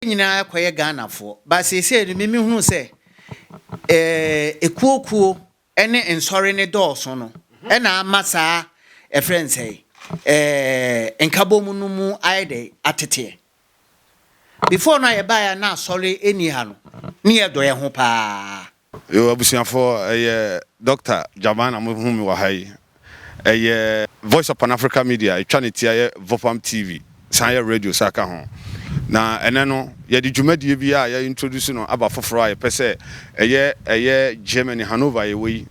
Yɛn nyinaa kɔyɛ Ghanafoɔ but seesei no me mehunu sɛ ɛkuo kuo ne nsɔre no dɔɔso no ɛna ama saa ɛfrɛ no sɛ ɛɛ nkabom no mu ayɛ dɛ ateteɛ. Before no a yɛbaeɛ a na asɔre ɛni ha no ne yɛdɔ yɛn ho paa. Yoo abusuafoɔ ɛyɛ Doctor Jaman na mo hu me wɔ ha yi. Ɛyɛ Voice of Pan Africa Media ɛtwa ne ti ayɛ Vopam TV san yɛ radio sa ka ho. Na ɛnɛ no yɛde dwumadie bi a yɛ introduce no aba foforɔ a yɛpɛ sɛ ɛyɛ ɛyɛ Germany Hannover yɛwɔ yi.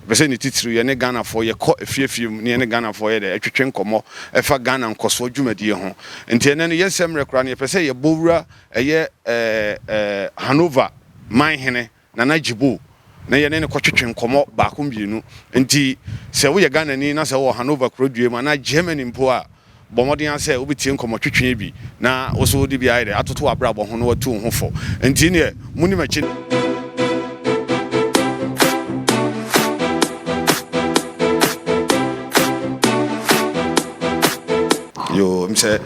Yɛpɛ sɛ ne titiriw yɛne Ghanafoɔ yɛkɔ afie afie mu ne yɛne Ghanafoɔ yɛ dɛ ɛtwetwe nkɔmmɔ ɛfa Ghana nkɔsoɔ dwumadie ho. Nti ɛnɛ no yɛn nsɛmmerɛ koraa no yɛpɛ sɛ yɛbɔ wura Ɛyɛ Hanover man hene Nana Ajiboh na yɛne no kɔtwetwe nkɔmmɔ baako mmienu. Enti sɛ woyɛ Ghanani na sɛ wowɔ Hanover kurodua mu anaa Germany mpo a, bɔ mmɔden ara sɛ wobɛtie nkɔmmɔtwetwe yi bi na wo nso wode bi ayɛ dɛ atoto w'abrabɔ ho na woatu wo ho fo. Enti nneɛ, monni m'akyi no. Yoo, ɛm sɛ.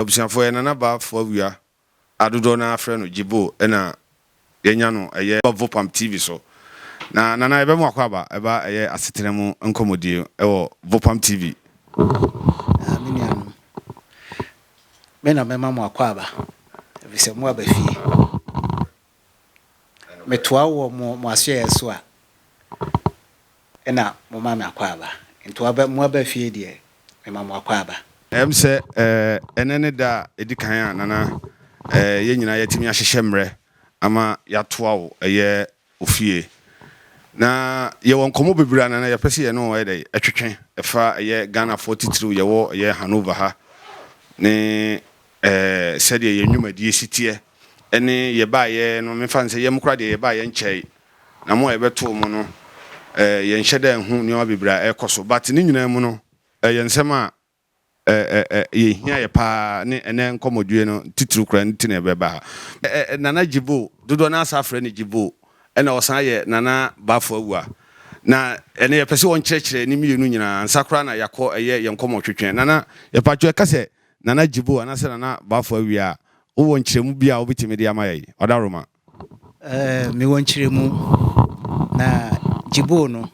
Abusuafoɔ yɛ Nana Ba Foawia a dodoɔ no ara frɛ no Gyebo na yɛanya no ɛyɛ Vopam TV so. Na Nana yɛbɛ mo akwaaba ɛba ɛyɛ asetena mu nkɔmɔdie ɛwɔ Vopam TV. Aa me nuanom, me na mɛma mo akwaaba ɛfiri sɛ mo aba fie. Metoa wo wɔ mo mo asoɛeɛ so a, ɛna moma me akwaaba. Nti waba mo aba fie deɛ, mema mo akwaaba. Ɛm sɛ ɛnɛ ne da a ɛdi kan a Nana yɛn nyinaa yɛatumi ahyehyɛ mmerɛ ama yɛatoa wo yɛ wo fie. Na yɛwɔ nkɔmmɔ bebree a Nana yɛpɛ sɛ yɛne wo yɛ dɛ ɛtwetwe ɛfa ɛyɛ Ghanafoɔ titiriw yɛwɔ ɛyɛ Hanover ha ne Ɛɛ, sɛdeɛ yɛn nnwumadie si teɛ ne yɛbaeɛ no, memfa no sɛ yɛn koraa deɛ yɛbaeɛ nkyɛe, na mo a yɛbɛtoo mo no, ɛɛ, yɛnhyɛ da nhu nneɛma bebree a ɛrekɔ so. But ne nyinaa mu no, ɛyɛ nsɛm a ɛɛ, ɛɛ, yɛhia yɛ pa ara ne ɛnnɛ nkɔmmɔdie no titiriw koraa nti na yɛbɛba ha. Ɛɛ, Nana Jibo, dodoɔ no ara saa frɛ no Jibo, ɛna ɔsan yɛ Nana Bafo Awua. Na ɛnnɛ yɛpɛ sɛ ɔnkyerɛkyerɛ ne mmienu nyinaa ansa koraa na yɛakɔ ɛyɛ yɛn nkɔmmɔtwetwe. Nana, yɛpa kyɛw, ɛka sɛ Nana Jibo anaasɛ Nana Bafo awie a, wowɔ nkyerɛmu bi a wobetumi de ama yɛn? Ɔdawuroma. Eh, mewɔ nkyerɛmu. Na Jibo no,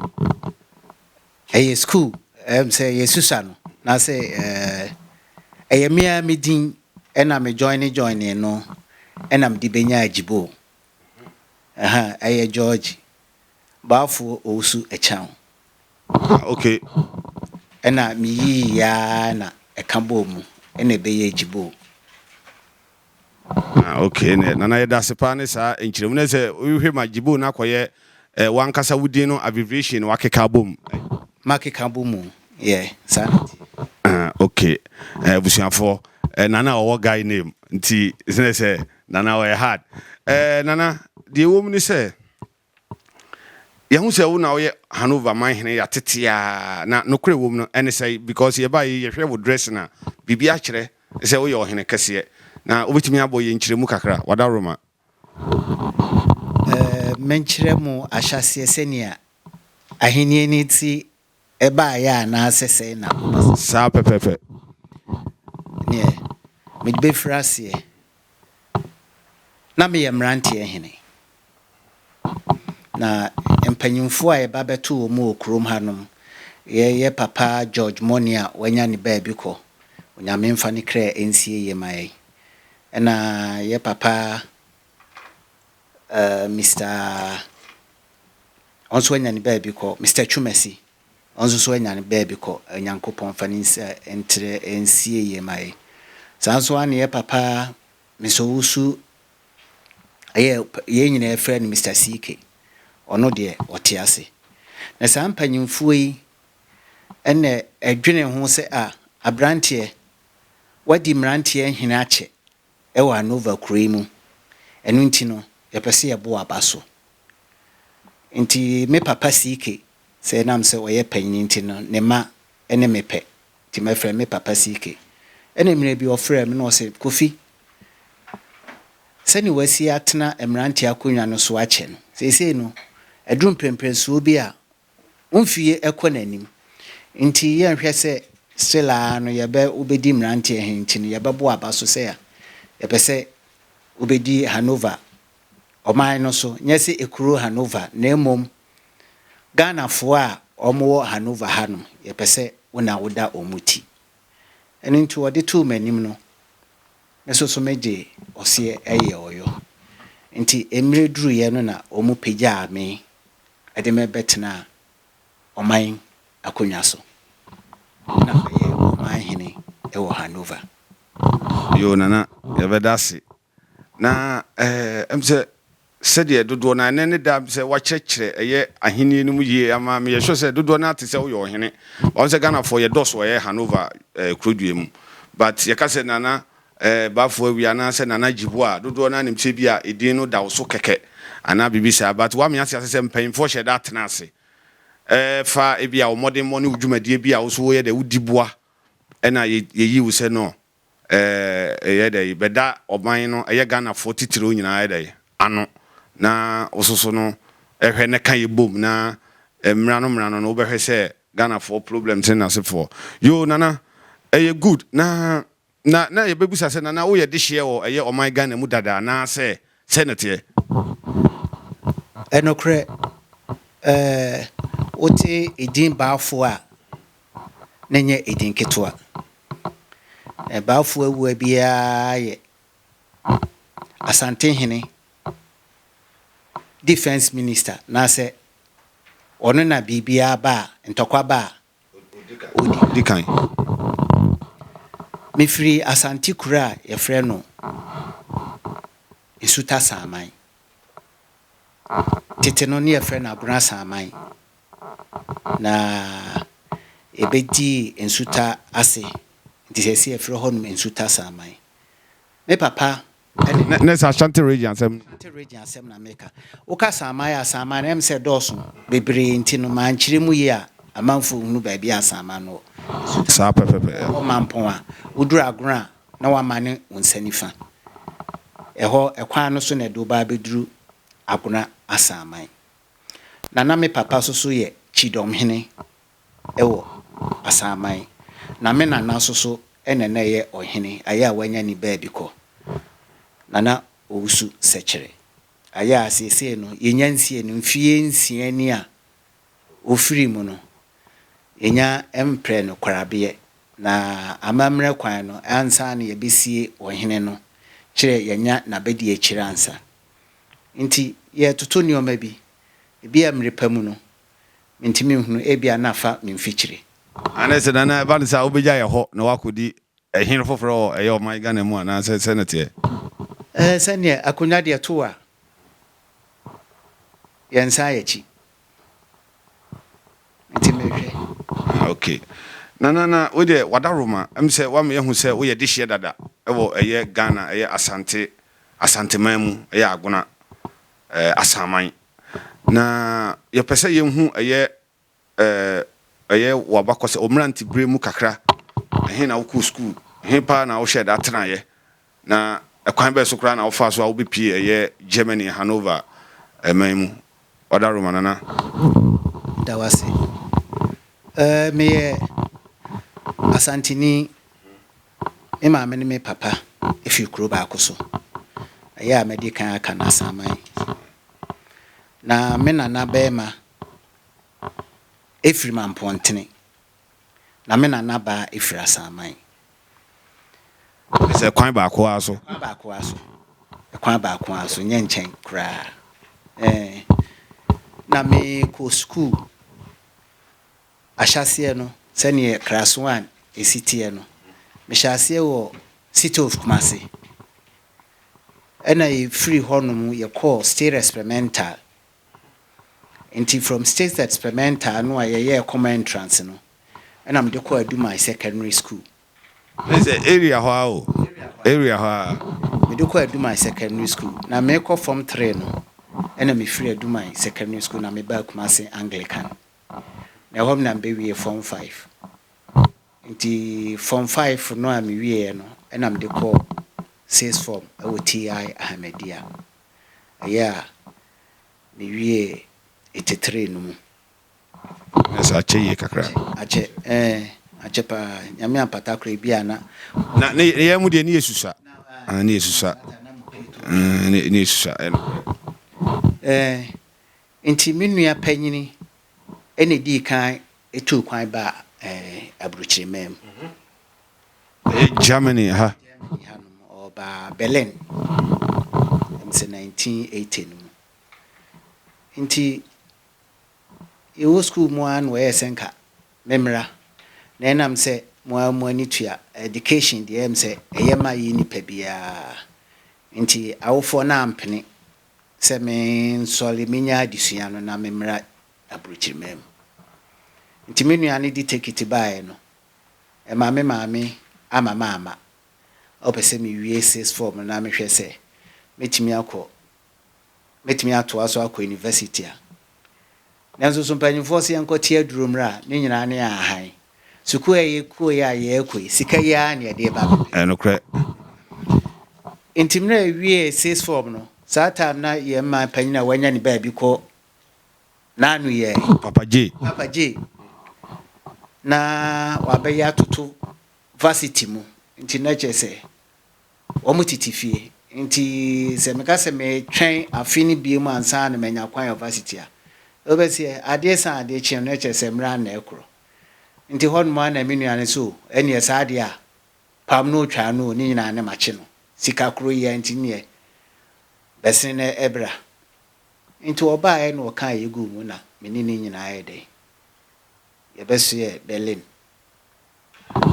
ɛyɛ sukuu, ɛm sɛ ɛyɛ Susa no, anaasɛ eh, ɛyɛ me ara me din na me joine joinee no na mede benyaa Jibo. Ɛha, ɛyɛ George Baafoɔ Owusu Ɛkyɛn. Ah okay. Ɛna me yii yɛ ara na ɛka bɔɔ mu ɛna ɛbɛyɛ Agyiboo. Ah okay nɛ Nana yɛdase paa ne saa nkyerɛmu no sɛ wohwɛ ma Agyiboo no akɔyɛ eh, wankasa wo din no abbreviation no wakeka abɔ mu. Makeka abɔ mu yɛ saa na ɛteɛ. Ah okay. Eh, abusuafoɔ eh, Nana ɔwɔ guy name nti sɛ sɛ Nana ɔyɛ hard. Eh, Nana deɛ ɛwɔ mu ne sɛ. Yɛahu sɛ wo na woyɛ Hanover man hene ya tete a na nokorɛ wom no ɛne sɛ because yɛba yi yɛhwɛ wo dressing a biribi akyerɛ sɛ woyɛ ɔhene kɛseɛ na wobɛtumi abɔ yɛn nkyerɛmu kakra wadaworoma. Menkyerɛ mo ahyɛaseɛ sɛnea ahennie no te ɛbaeɛ anaasɛ sɛe na wɔbɛsɛe no. Saa pɛpɛɛpɛ. Neɛ mede bɛfiri aseɛ, na meyɛ mmeranteɛ hene, na mpanimfoɔ a yɛba bɛto wɔn wɔ kurom hanom yɛ yɛ papa George Mone a wanya ne baabi kɔ, Onyame mfa ne kra nsie yie ma yɛn, ɛna yɛ papa Eh, Mister Ɔno nso anya ne baabi kɔ. Mister Twumasi Ɔno nso so anya ne baabi kɔ. Onyankopɔn mfa ne nsa ntrɛ nsie yie ma yɛn. Saa nso ara na yɛn papa Mister Owusu ɛyɛ yɛn nyinaa yɛfrɛ no Mister CK. Ɔno deɛ ɔte ase. Na saa mpanyimfoɔ yi ɛna ɛdwene ho sɛ a, aberanteɛ, woadi mmeranteɛ nhene akyɛ. wɔ Anova kuro yi mu. Ɛno nti no, yɛpɛ sɛ yɛbo aba so. Nti me papa CK, sɛ ɛnam sɛ ɔyɛ panin nti no, ne mma ne me pɛ. Nti mɛfrɛ me papa CK. Ɛna mmerɛ bi ɔfrɛɛ me na ɔse, Kofi, sɛdeɛ wasi atena mmeranteɛ akonnwa no so akyɛ no, seesei no, aduru mprɛmprɛnsoɔ bi a wo mfeɛ ɛkɔ n'anim nti yɛnhwɛ sɛ still ara no yɛbɛ wobɛdi mmeranteɛ he nti no yɛbɛbɔ aba so sɛ a yɛpɛ sɛ wobɛdi Hanover ɔman no so nyɛ sɛ ekuro Hanover na mmom Ghanafoɔ a wɔwɔ Hanover ha no yɛpɛ sɛ wo na woda wɔn ti ɛno nti wɔde too m'anim no me nso so megye ɔseɛ ɛyɛ ɔyɔ nti mmerɛ duruiɛ no na wɔn pagyaa me Ɛde me bɛtenaa ɔman akonnwa so, na ɔyɛ ɔman hene wɔ Hanover. Yoo Nana yɛbɛda ase na ɛɛ ɛm sɛ sɛdeɛ dodoɔ no a ɛnɛ ne da sɛ wakyerɛkyerɛ ɛyɛ ahennie no mu yie ama meyɛ sure sɛ dodoɔ no a te sɛ woyɛ ɔhene wɔn sɛ Ghanafoɔ yɛdɔso ɛyɛ Hanover ɛɛ kurodua mu but yɛka sɛ Nana Ɛɛ, Bafo Awi anaasɛ Nana Agyibua a dodoɔ no ara nim sɛ ebia edin no da wo so kɛkɛ anaa biribi saa, but woame ate ase sɛ mpanyimfoɔ hyɛ da tena ase fa ebia wo mmɔdemmɔ ne wo dwumadie bi a wo nso woyɛ dɛ wodi boa ɛna yɛyi wo sɛ no ɛɛ yɛ dɛ bɛda ɔman no ɛyɛ Ghanafoɔ titiriw nyinaa yɛ dɛ ano na wo nso so no hwɛ na ka yɛbom na mmra no mmra no no wobɛhwɛ sɛ Ghanafoɔ problems ne n'asefoɔ. Yoo Nana, ɛyɛ good na Na na yɛbɛbisa sɛ, Nana woyɛ dehyeɛ wɔ ɛyɛ ɔman Ghana mu dada anaa sɛ sɛn na ɛteɛ? Ɛnokorɛ ɛɛ wote edin Baafoɔ a na ɛnyɛ edin ketewa. Baafoɔ awua biara yɛ Asantehene Defence Minister anaasɛ ɔno na biribiara ba a, ntɔkwa ba a ɔdi kan. Mefiri Asante kuro a wɔfrɛ no Nsuta Saaman. Tete no na wɔfrɛ no Agona Saaman, na ɛbɛdii Nsuta ase, nti seesei wɔfrɛ hɔnom Nsuta Saaman. Me papa. Ɛde na na sɛ Ashanti region asɛm no. Ashanti region asɛm na meka. Woka Samaa yɛ Asamaa no ɛm sɛ ɛdɔɔso bebree nti no mankyerɛ mu yie a amanfoɔ nhunu baabi a Asamaa no wɔ. Nsutane Saa pɛpɛpɛ. Ɛwɔ ɛhɔ Mampɔn a woduru Agorɔ a na wamane wo nsa nifa. Ɛhɔ ɛkwan no so na ɛde wo ba abɛduru Agorɔ Asaman. Na na me papa nso so yɛ Kyidɔmhene wɔ Asanman, na me nana nso so na na ɛyɛ ɔhene, ayɛ a wanya ni baabi kɔ, na na ɔwusu sɛkyerɛ, ayɛ a seesei no yɛnya nsie no mfeɛ nsia ni a ɔfirii mu no, yɛnya mprɛ no korabeɛ, na amammerɛ kwan no ansa na yɛbɛsie ɔhene no, kyerɛ yɛanya n'abadiakyire ansa nti yɛretoto nneɛma bi, ebi a mmerɛ pa mu no Mintumi nhunu, ebia na fa me mfikyiri. Ane sɛ na ɛba no saa wobegya yɛ hɔ na woakɔdi ɛhene foforɔ wɔ ɛyɛ ɔman Ghana mu anaa sɛ sɛ na teɛ? Ɛɛ sɛdeɛ akonwa deɛ to wo a yɛn nsa ayɛ kyi nti mehwɛ. Ah ok Nana na wei deɛ wadaworo ma ɛm sɛ woama yɛahu sɛ woyɛ dehyeɛ dada wɔ ɛyɛ Ghana ɛyɛ Asante Asanteman mu ɛyɛ Agona. asaman. Na yɛpɛ sɛ yehu ɛyɛ ɛyɛ w'abakɔsɛ wo mmerante bere mu kakra, ɛhe na wokɔɔ sukuu, ɛhe paa na wohyɛɛ da tenaeɛ, na ɛkwan bɛn so koraa na wofaa so a wobɛpue ɛyɛ Germany Hanover man mu. Ɔda Roma Nana. Da w'ase. Ɛɛ meyɛ Asanteni Me maame ne me papa fi kuro baako so. Ɛyɛ a mɛdi kan aka Nasaman. Na me nana barima firi Mampɔntene. Na me nana baa firi Asaman. Kyerɛ sɛ kwan baako ara so. Kwan baako ara so. Kwan baako ara so, nyɛ nkyɛn koraa. Ɛɛ. Na mekɔɔ sukuu. Ahyɛaseɛ no, sɛdeɛ Kraswan si teɛ no, mehyɛɛ aseɛ wɔ Sitov Kumase, ɛna yɛfirii hɔnom yɛkɔɔ State Experimental, nti from State Experimental no a yɛyɛɛ Common Entrance no, ɛna mede kɔɔ Adumai Secondary School. Kyerɛ sɛ area hɔ ara o, area hɔ ara. Mede kɔɔ Adumai Secondary School, na merekɔ Form Three no, ɛna mefiri Adumai Secondary School na mebaa Kumase Anglican. na ɛhɔ na mebewie Form Five. Enti Form Five no a mewieeɛ no na mede kɔɔ Sixth Form wɔ TI Ahmadiyya. Ɛyɛ a mewiee Eighty Three no mu. Nanso akyɛ yie kakra. Akyɛ, ɛɛ, akyɛ paa. Nyame ampata koraa, ebi a na. Na ne yɛn mu deɛ ne yɛ susua. Ah, ne yɛ susua. Mm, ne yɛ susua. Ɛɛ, Enti me nua panyin na edii kan tuu kwan baa aburokyiri man mu. Ɛyɛ Germany ha. Germany ha nom. Ɔbaa Berlin, ɛm sɛ 1980 no mu. Enti yɛwɔ sukuu mu ara na wɔyɛɛ sɛ nka memmra. Na ɛnam sɛ mo ara mo ani tua ɛdikehyen deɛ ɛm sɛ ɛyɛ ma yɛn nipa biara nti, awofoɔ no ampene Sɛ mensɔre menya adesua no na memmra aburokyirimaa mu. Nti me nua no de tekiti baeɛ no, ɛma me maame ama mamma. Ɔpɛ sɛ mewie sixth form no na mehwɛ sɛ mɛtumi akɔ, mɛtumi atoa so akɔ university a. Nanso so mpanyimfoɔ se yɛnkɔ te aduro mmra a? Ne nyinaa ne ahan. Sukuu a yɛkɔe a yɛrekɔ yi, sika yi ara na yɛde reba abɛpɛ. Ɛyɛ nokorɛ. Enti mmerɛ a yɛwiee sixth form no, saa time na yɛn man panyin a wanya ne baabi kɔ n'ano yɛ. Papa J. Papa J. Na wabɛyɛ atoto varsity mu. Nti na kyerɛ sɛ Wɔtete fie. Enti sɛ meka sɛ metwɛn afe no biom ansa na manya kwan wɔ varsity a, wobɛse ɛ? Adeɛ sa a adeɛ kye no, na ɛkyerɛ sɛ mmerɛ ano na ɛkorɔ. Nti hɔ nom ara na me nua no se o, ɛneɛ saa adeɛ a, pam no o, twaa no o, ne nyinaa ne makye no. Sika korɔ yi ara nti neɛ, bɛsene na ɛbra. Nti ɔbaaɛ na ɔkaa yei guu mu na me ne no nyinaa yɛɛ dɛn? Yɛbɛsoɛ Berlin.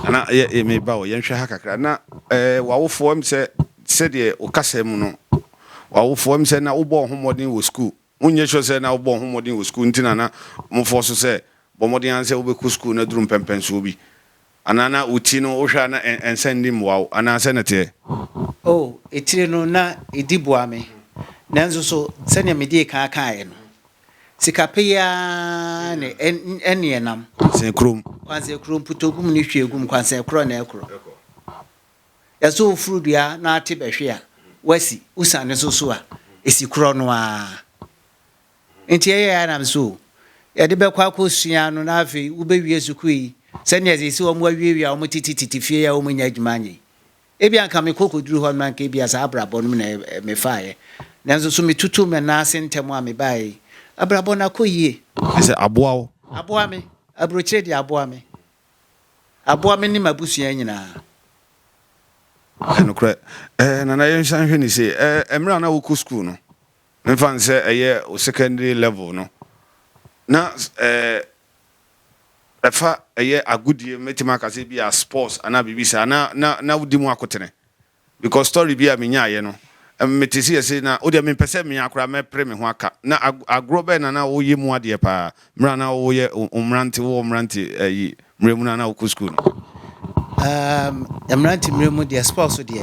Nana, yɛ, yɛ, meba o, yɛnhwɛ ha kakra. Na, eh, w'awofoɔ, ɛm sɛ, sɛdeɛ wo kasa mu no, w'awofoɔ, ɛm sɛ na wobɔɔ ho mmɔden wɔ sukuu? Wonyɛ sure sɛ na wobɔɔ ho mmɔden wɔ sukuu nti na na wɔfɔɔso sɛ, bɔ mmɔden ara sɛ wobɛkɔ sukuu no aduru mpɛmpɛnsoɔ bi? Anaa na wo ti no wohwɛ a na nsa nni mmoa wo anaa sɛn na ɛteɛ? Oh, etire no na edi boa me. Nanso so sɛnea midii kan kae no, sika pɛ yi ara ne ɛnne nam. Kwansen koro mu. Kwansen koro mu, putogu mu ne hwiegu mu, kwansen koro na ɛkoro. Yɛsɔ wo furu dua na ate bɛhwe a, woasi, wosiane so so a, esi korɔ no ara. Enti ɛyɛɛ a nam so yɛde bɛkɔ akɔsua no na afei wobɛwie sukuu yi sɛnea ɛsɛ sɛ wɔawiawia wɔn tete tete fie a wɔnnya adwuma nyɛ yi. Ebia anka mekɔ kɔduru hɔ no anka ebia saa abrabɔ no mu na mefaeɛ. Nanso so metutuu me nan ase ntɛm a mebaeɛ yi, abrabɔ no akɔ yie. Kyerɛ sɛ, aboa wo. Aboa me. Aburokyire deɛ aboa me. Aboa me ne m'abusua nyinaa. Nokorɛ. Ɛɛ, Nana yɛnsan nhwɛ no sei. Ɛɛ, mmerɛ a na wokɔ sukuu no, Memfa no sɛ ɛyɛ wo secondary level no na ɛɛ ɛfa ɛyɛ agodie mɛtumi aka sɛ bi a sports anaa biribi saa na na na wodi mu akotene because story bi a menyaeɛ no mete sɛ yɛse na wodeɛ mempɛ sɛ mea koraa mɛpere me ho aka na agorɔ bɛn na na woyɛ mu adeɛ paa mmerɛ a na woyɛ mmerante wowɔ mmerante ayi mmerɛ mu no a na wokɔ school no. Um, mmerante mmerɛ mu deɛ sports deɛ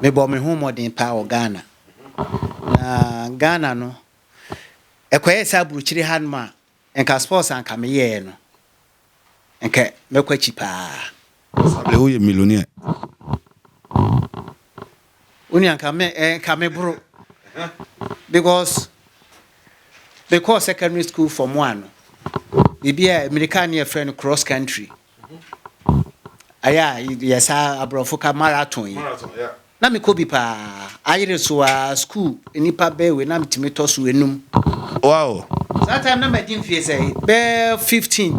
mebɔ me ho mmɔden paa wɔ Ghana. Na Ghana no ɛkɔyɛɛ sɛ aburokyire ha nom a nka sports a nka me yɛɛ no nka mɛkɔ akyi paa. Sable wo yɛ millionaire. Wo nua nka me eh, nka me boro because me kɔɔ secondary school form one no biribi a mmirika ne yɛfrɛ no cross country. Ɛyɛ a yɛ saa aborɔfo ka marathon yi. Na mekɔ bi paa. Ayere so a school nnipa bɛɛ wei na metumi tɔ so enum. Wow. Saa time na madi mfie sɛ bɛɛ 15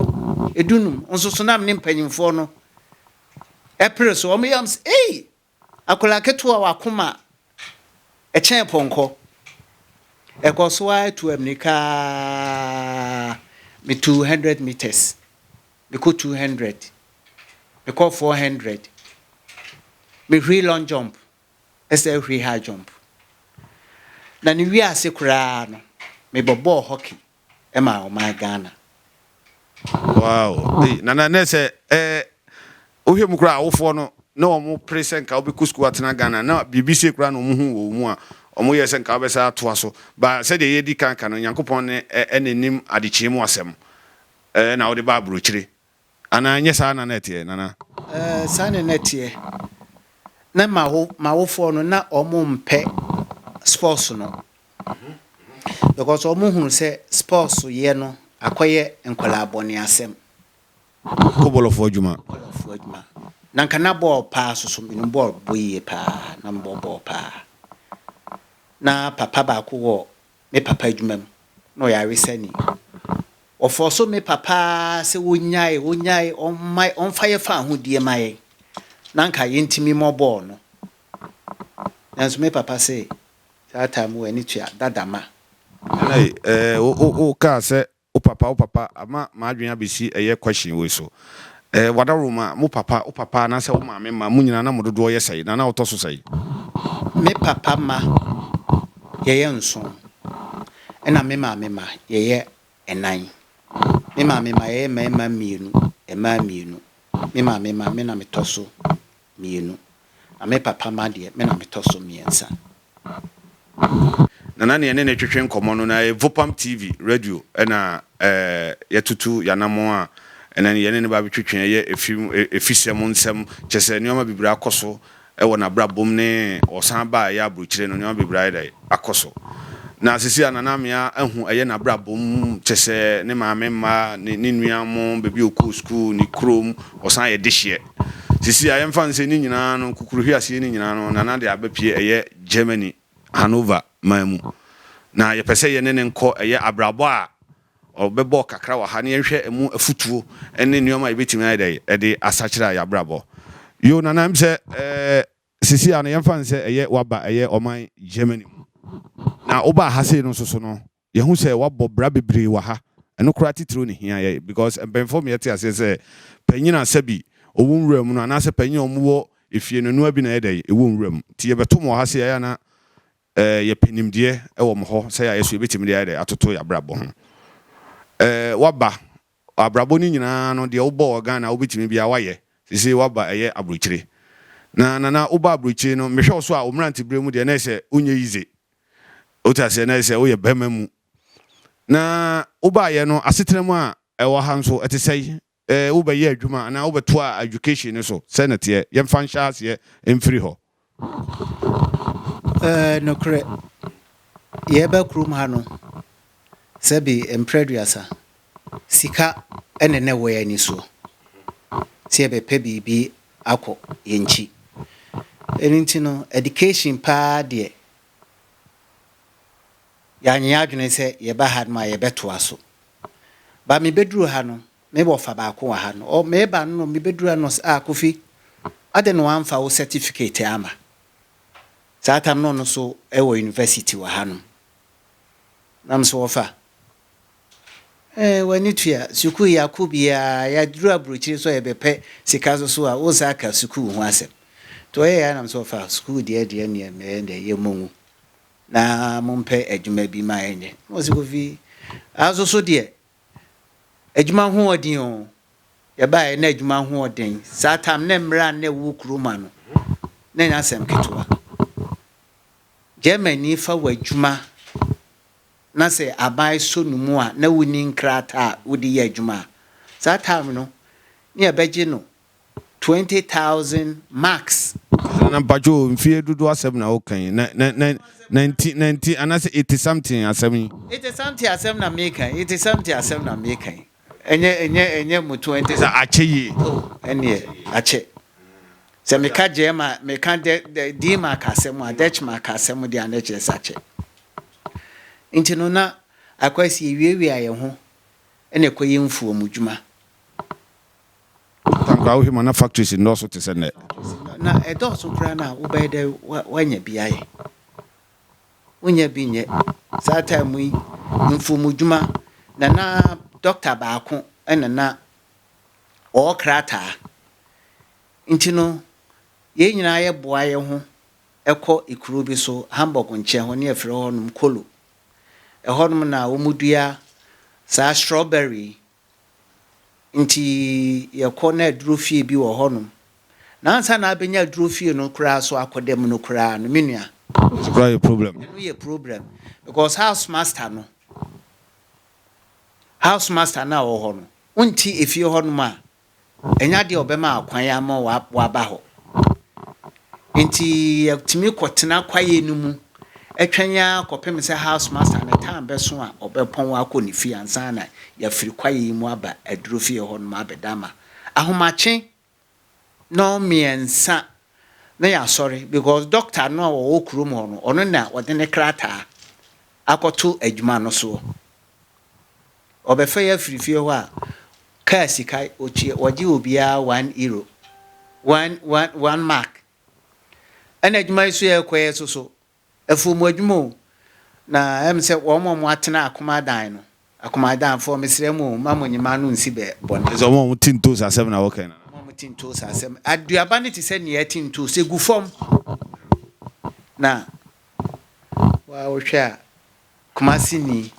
edunum nso so na me ne mpanyimfoɔ no ɛpere so wɔn yam sɛ ei Akwadaa ketewa a w'akoma kyɛn pɔnkɔ. Ɛkɔ so ara tu ammirika ara, metuu hundred metres, mekɔ two hundred, mekɔ four hundred, mehuri long jump, ɛsɛ ahuri high jump. Na ne wiase koraa no, mebɔ bɔɔl hockey. ma ɔman Ghana. Wow ei nana nɛ sɛ ɛɛ wohwɛ mu kura awofoɔ no na wɔn pere sɛ nka wobɛkɔ sukuu atena Ghana na biribi sie kura na wɔn hu wɔ wɔn mu a wɔn yɛ sɛ nka wobɛsa atoa so ba sɛdeɛ yɛdi kan ka no Nyankopɔn ne ɛna nim adekyee mu asɛm ɛɛ na wode ba aburokyire Anaa ɛnyɛ saa na na ɛteɛ, Nana? Ɛɛ, saa na na ɛteɛ. Na m'awo, m'awofoɔ no, na wɔmpɛ sports no. Because wɔhunu sɛ sports yɛ no akɔyɛ nkwadaa bɔne asɛm. Kɔbɔlɔfoɔ adwuma. Kɔbɔlɔfoɔ adwuma. Na nka na bɔɔl paa so so, menim bɔɔl bɔ yie paa, na mebɔ bɔɔl paa. Na papa baako wɔ me papa adwuma mu, na ɔyɛ aresani. Wɔfɔɔ so me papa ara sɛ ɔnyae, ɔnyae, ɔmma, ɔmfa yɛ fa ahodie mma yɛn, na anka yɛntumi mmɔbɔɔ no. Nanso me papa se, Saa time w'ani tua, dada ma. Ɛɛ, wo, wo, wokaa sɛ O papa o papa ama m'adwene abɛsi ɛyɛ question wei so eh, W'adaworo mma, mo papa, wo papa anaasɛ wo maame mma, mo nyinaa na mo dodoɔ yɛ sɛe? Nana wotɔ so sɛe? Me papa mma yɛyɛ nson ɛna me maame mma yɛyɛ nnan. Me maame mma yɛyɛ mmarima mmienu, mmaa mmienu. Me maame mma me na metɔ so mmienu. Na me papa mma deɛ, me na metɔ so mmiɛnsa. Na na nea yɛne no twetwe nkɔmmɔ no, na ɛyɛ Vopam TV, radio, na yɛatutu yɛn anammɔn a ɛnɛ yɛne no ba abɛtwetwe ɛyɛ afisɛm nsɛm. Kyerɛ sɛ, nneɛma bebree akɔ so wɔ n'abrabɔ mu ne ɔsan aba a ɛyɛ aburokyire no, nneɛma bebree ayɛ dɛn? Akɔ so. Na seesei a Nana Amea ahu ɛyɛ n'abrabɔ mu, kyerɛ sɛ, ne maame mma, ne nua wɔn, baabi a ɔkɔɔ sukuu, ne kurom, ɔsan yɛ dehyeɛ. Sisi a yɛmfa no sɛ ne nyinaa no kukuruhweaseɛ no nyinaa no Nana de aba pie ɛyɛ Germany Hanover man mu na yɛpɛ sɛ yɛne no nkɔ ɛyɛ abrabɔ a ɔbɛbɔ kakra wɔ ha na yɛnhwɛ ɛmu afutuo ne nneɛma a yɛbɛtumi ayɛ dɛ ɛde asakyera yɛabrabɔ Yoo Nana ɛm sɛ ɛɛ sisi a no yɛmfa no sɛ ɛyɛ waba ɛyɛ ɔman Germany mu na wobaa ha sei no nso so no Yɛahu sɛ wɔabɔ bra bebree wɔ ha. Ɛno koraa titiriw na ehia yɛn because mpanyimfo ma yɛte aseɛ sɛ panyin a sɛbi ɔwɔ nwura mu no anaasɛ panyin a wɔwɔ efie no noa bi na ɛyɛ dɛn? Ɛwɔ nwura mu. Nti yɛbɛto mo wɔ ha sɛ yɛayɛ a na eh, yɛpɛ nimdeɛ wɔ mo hɔ sɛ yɛayɛ so yɛbɛtumi de ayɛ dɛn? Atoto yɛn abrabɔ ho. Eh, woaba abrabɔ no nyinaa no deɛ wobɔ wɔ Ghana a wobɛtumi biara woayɛ. Seesei woaba ɛyɛ aburokyire. Na Nana wobaa aburokyire no mehwɛ wo so a wo mmeranteberɛ mu deɛ na ɛsɛ wonyɛ yize. Wote aseɛ? Na sɛ woyɛ barima mu, na wobaeɛ no, asetena mu a ɛwɔ ha nso, ɛte sɛn? Ɛɛ, wobɛyɛ adwuma anaa wobɛtoaa education no so? Sɛn na ɛteɛ? Yɛmfa nhyɛ aseɛ mfiri hɔ. Ɛɛ, nokorɛ. Yɛreba kurom ha no, Sɛ bi mprɛ aduasa. Sika ne na ɛwɔ yɛn ani soɔ, sɛ yɛbɛpɛ biribi akɔ yɛn nkyi. Ɛno nti no, education paa deɛ, yɛanyɛ yɛn adwene sɛ yɛba ha nom a yɛbɛtoa so. Ba mebɛduru ha no, me wɔfa baako wɔ ha no, ɔ, meba no nom, mebɛduru ha no ɔse, ah Kofi, adɛn na wamfa wo certificate amma? Saa tam no ɔno nso wɔ university wɔ ha nom. nam so wɔfa. Ɛɛ, w'ani tua. Sukuu yɛakɔ biara, yɛaduru aburokyire nso a yɛbɛpɛ sika nso so a, wonsan aka sukuu ho asɛm. Nti ɔyɛ yɛ ara nam so wɔfa. Sukuu deɛ deɛ neɛ mɛyɛ no deɛ yɛmmɔ ngu na mompɛ adwuma bi ma yɛnyɛ. Na wɔse Kofi, ah nso so deɛ, adwuma ho wɔ den o. Yɛbaeɛ na adwuma ho wɔ den. Saa tam ne mmara a na ɛwɔ kurom ano, na ɛnyɛ asɛm ketewa. Germani fa w'adwuma na sɛ aban sɔ no mu a na wonni nkrataa a wode yɛ adwuma a, saa time no ne yɛbɛgye no twenty thousand marks. Nana mpacho mfie dodoɔ asɛm na woka yi na na na na nti na nti anasɛ iti something asɛm yi. Iti something asɛm na meka yi iti something asɛm na meka yi. Ɛnyɛ ɛnyɛ ɛnyɛ mutu ɛnte sɛ akyɛ yie. Oh ɛneɛ akyɛ. Sɛ meka gyɛɛma meka dɛ dɛ diima ka asɛm a dɛkyema ka asɛm deɛ a na ɛkyerɛ sɛ akyɛ. Nti no na akwasi yɛwiawia yɛn ho ɛna ɛkɔyɛ mfuom dwuma. Tankwa wohwɛ mu a na factories nnɔɔso te sɛ nnɛ. Na ɛdɔɔso koraa no a wobɛyɛ dɛ wanya bi ayɛ. wonyɛ bi nyɛ saa time mu yi mfomudwuma na na doctor baako na na ɔwɔ krataa nti no yɛn nyinaa yɛ boa yɛn ho ɛkɔ ekuro bi so Hamburg nkyɛn hɔ ne yɛfrɛ hɔ nom Kolo ɛhɔ nom na wɔn dua saa strawberry Nti yɛkɔ na aduro fie bi wɔ hɔnom. Na ansa na abɛnya aduro fie no koraa so akɔ da mu no koraa no, me nua. Ɛno koraa yɛ problem. Ɛno yɛ problem because house master no, house master no a ɔwɔ hɔ no, wonte efie hɔnom a, Ɛnyɛ adeɛ a ɔbɛma akwan ama waba hɔ. Nti yɛtumi kɔtena kwaeɛ no mu twɛn ara kɔpem sɛ house master no time bɛso a ɔbɛpɔn akɔ ne fie ansa na yɛafiri kwaeɛ yi mu aba aduro fie hɔ nom abɛda ama ahomakye no mmiɛnsa na yɛasɔre because doctor no a ɔwɔ kurom hɔ no ɔno na ɔde ne krataa akɔto adwuma no soɔ. Wɔbɛfa yɛ afiri fie hɔ a car sika wɔtua wɔgye obiara one euro one one one mark ɛna adwuma yi so yɛ kɔ yɛ soso afuo mu adwuma o na ɛm sɛ wɔn a wɔn atena akomadan no akomadan fɔ mesrɛ mu o ma mo nyima no nsi bɛ bɔne. Ɛsɛ wɔn a wɔn ti ntoos asɛm na wɔkɛn nana. Wɔn a wɔn ti ntoos asɛm aduaba no te sɛ nea ɛti ntoos egu fam na wɔhwɛ a Kumasi ni.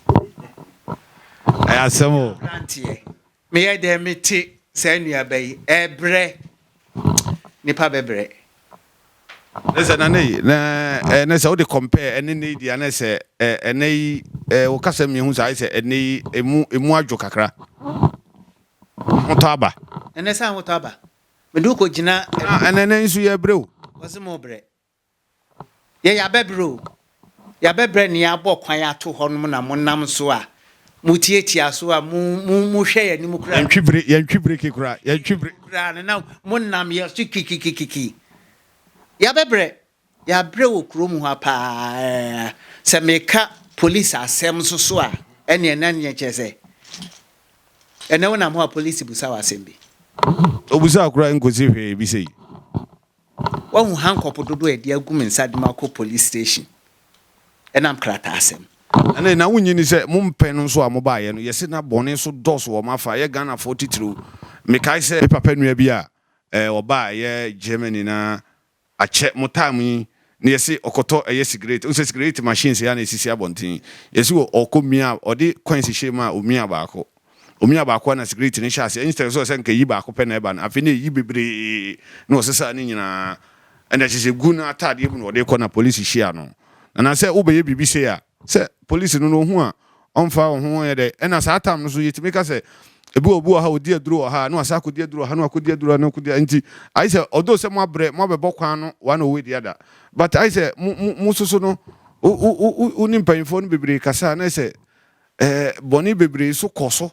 Ɛyɛ asɛm o. Abranteɛ. Meyɛ dɛn me te saa nuaba yi. Ɛbrɛ. Nipa bɛbrɛ. Ne sɛ nana yi na ɛnɛ sɛ wode compare ɛne nne yi di anɛ sɛ ɛnɛ yi wo kasa mmienu sɛ ayɛ sɛ ɛnɛ yi emu emu adwo kakra ahotɔ aba ɛnɛ sɛ ahotɔ aba mede wokɔ gyina ɛnɛ ɛnɛ nso yɛ brɛ o wɔse mo brɛ Yɛ yɛabɛbrɛ o, yɛabɛbrɛ nea abɔ kwan ato hɔ nom na mo nam so a, mo tiatia so a, mo, mo, mo hwɛ yɛn anim koraa. Yɛntwi bere, yɛntwi bere ke koraa, yɛntwi bere. Koraa no, na mo nam yɛn so kikikikiki. Yɛabɛbrɛ, yɛabrɛ wɔ kuro mu ha paa ɛɛ. Sɛ meka polisi asɛm nso so a, ɛneɛ na neɛ kyerɛ sɛ, ɛnɛ wo nam hɔ a polisi busa wo asɛm bi. Obusa wo koraa nkosi hwee bi sei. Woahu hankɔp dodoɔ a yɛde agu me nsa de makɔ police station ɛnam krataasɛm. Ɛnɛ na wonye ni sɛ mo mpɛ no nso a mobaeɛ no yɛse na bɔne nso dɔɔso wɔ mo afa yɛ Ghanafoɔ titiriw. Mekae sɛ. Me papa nua bi a ɔbaa ɛyɛ Germany na akyɛ mo time yi na yɛse ɔkɔtɔ ɛyɛ sigaret wohu sɛ sigaret machine sei ara na ɛsisi abɔnten yɛse wɔ ɔkɔ mia ɔde coins hyɛɛ mu a ɔmia baako ɔmia baako a na sigaret no hyɛ aseɛ instead sɛ ɔsɛ nka ɛyi baako pɛ na ɛba no afei na ɛyi bebree na ɔsesaa ne nyinaa ɛna kyɛ sɛ gu no ataadeɛ mu na ɔde kɔ na police hyia no na na sɛ wobɛyɛ biribi sei a Sɛ police no no ohu a ɔmfa wo ho yɛ dɛ ɛna saa tam no so yɛtumi ka sɛ ebi wɔ obi wɔ ha odi aduro wɔ ha na wasa akɔdi aduro wɔ ha na wakɔdi aduro na akɔdi nti ayi sɛ although sɛ mo abrɛ mo abɛbɔ kwan no one owei di ada but ayi sɛ mo mo mo soso no wo wo wo wo ne mpanyinfoɔ no bebree kasa na sɛ ɛɛ bɔne bebree so kɔ so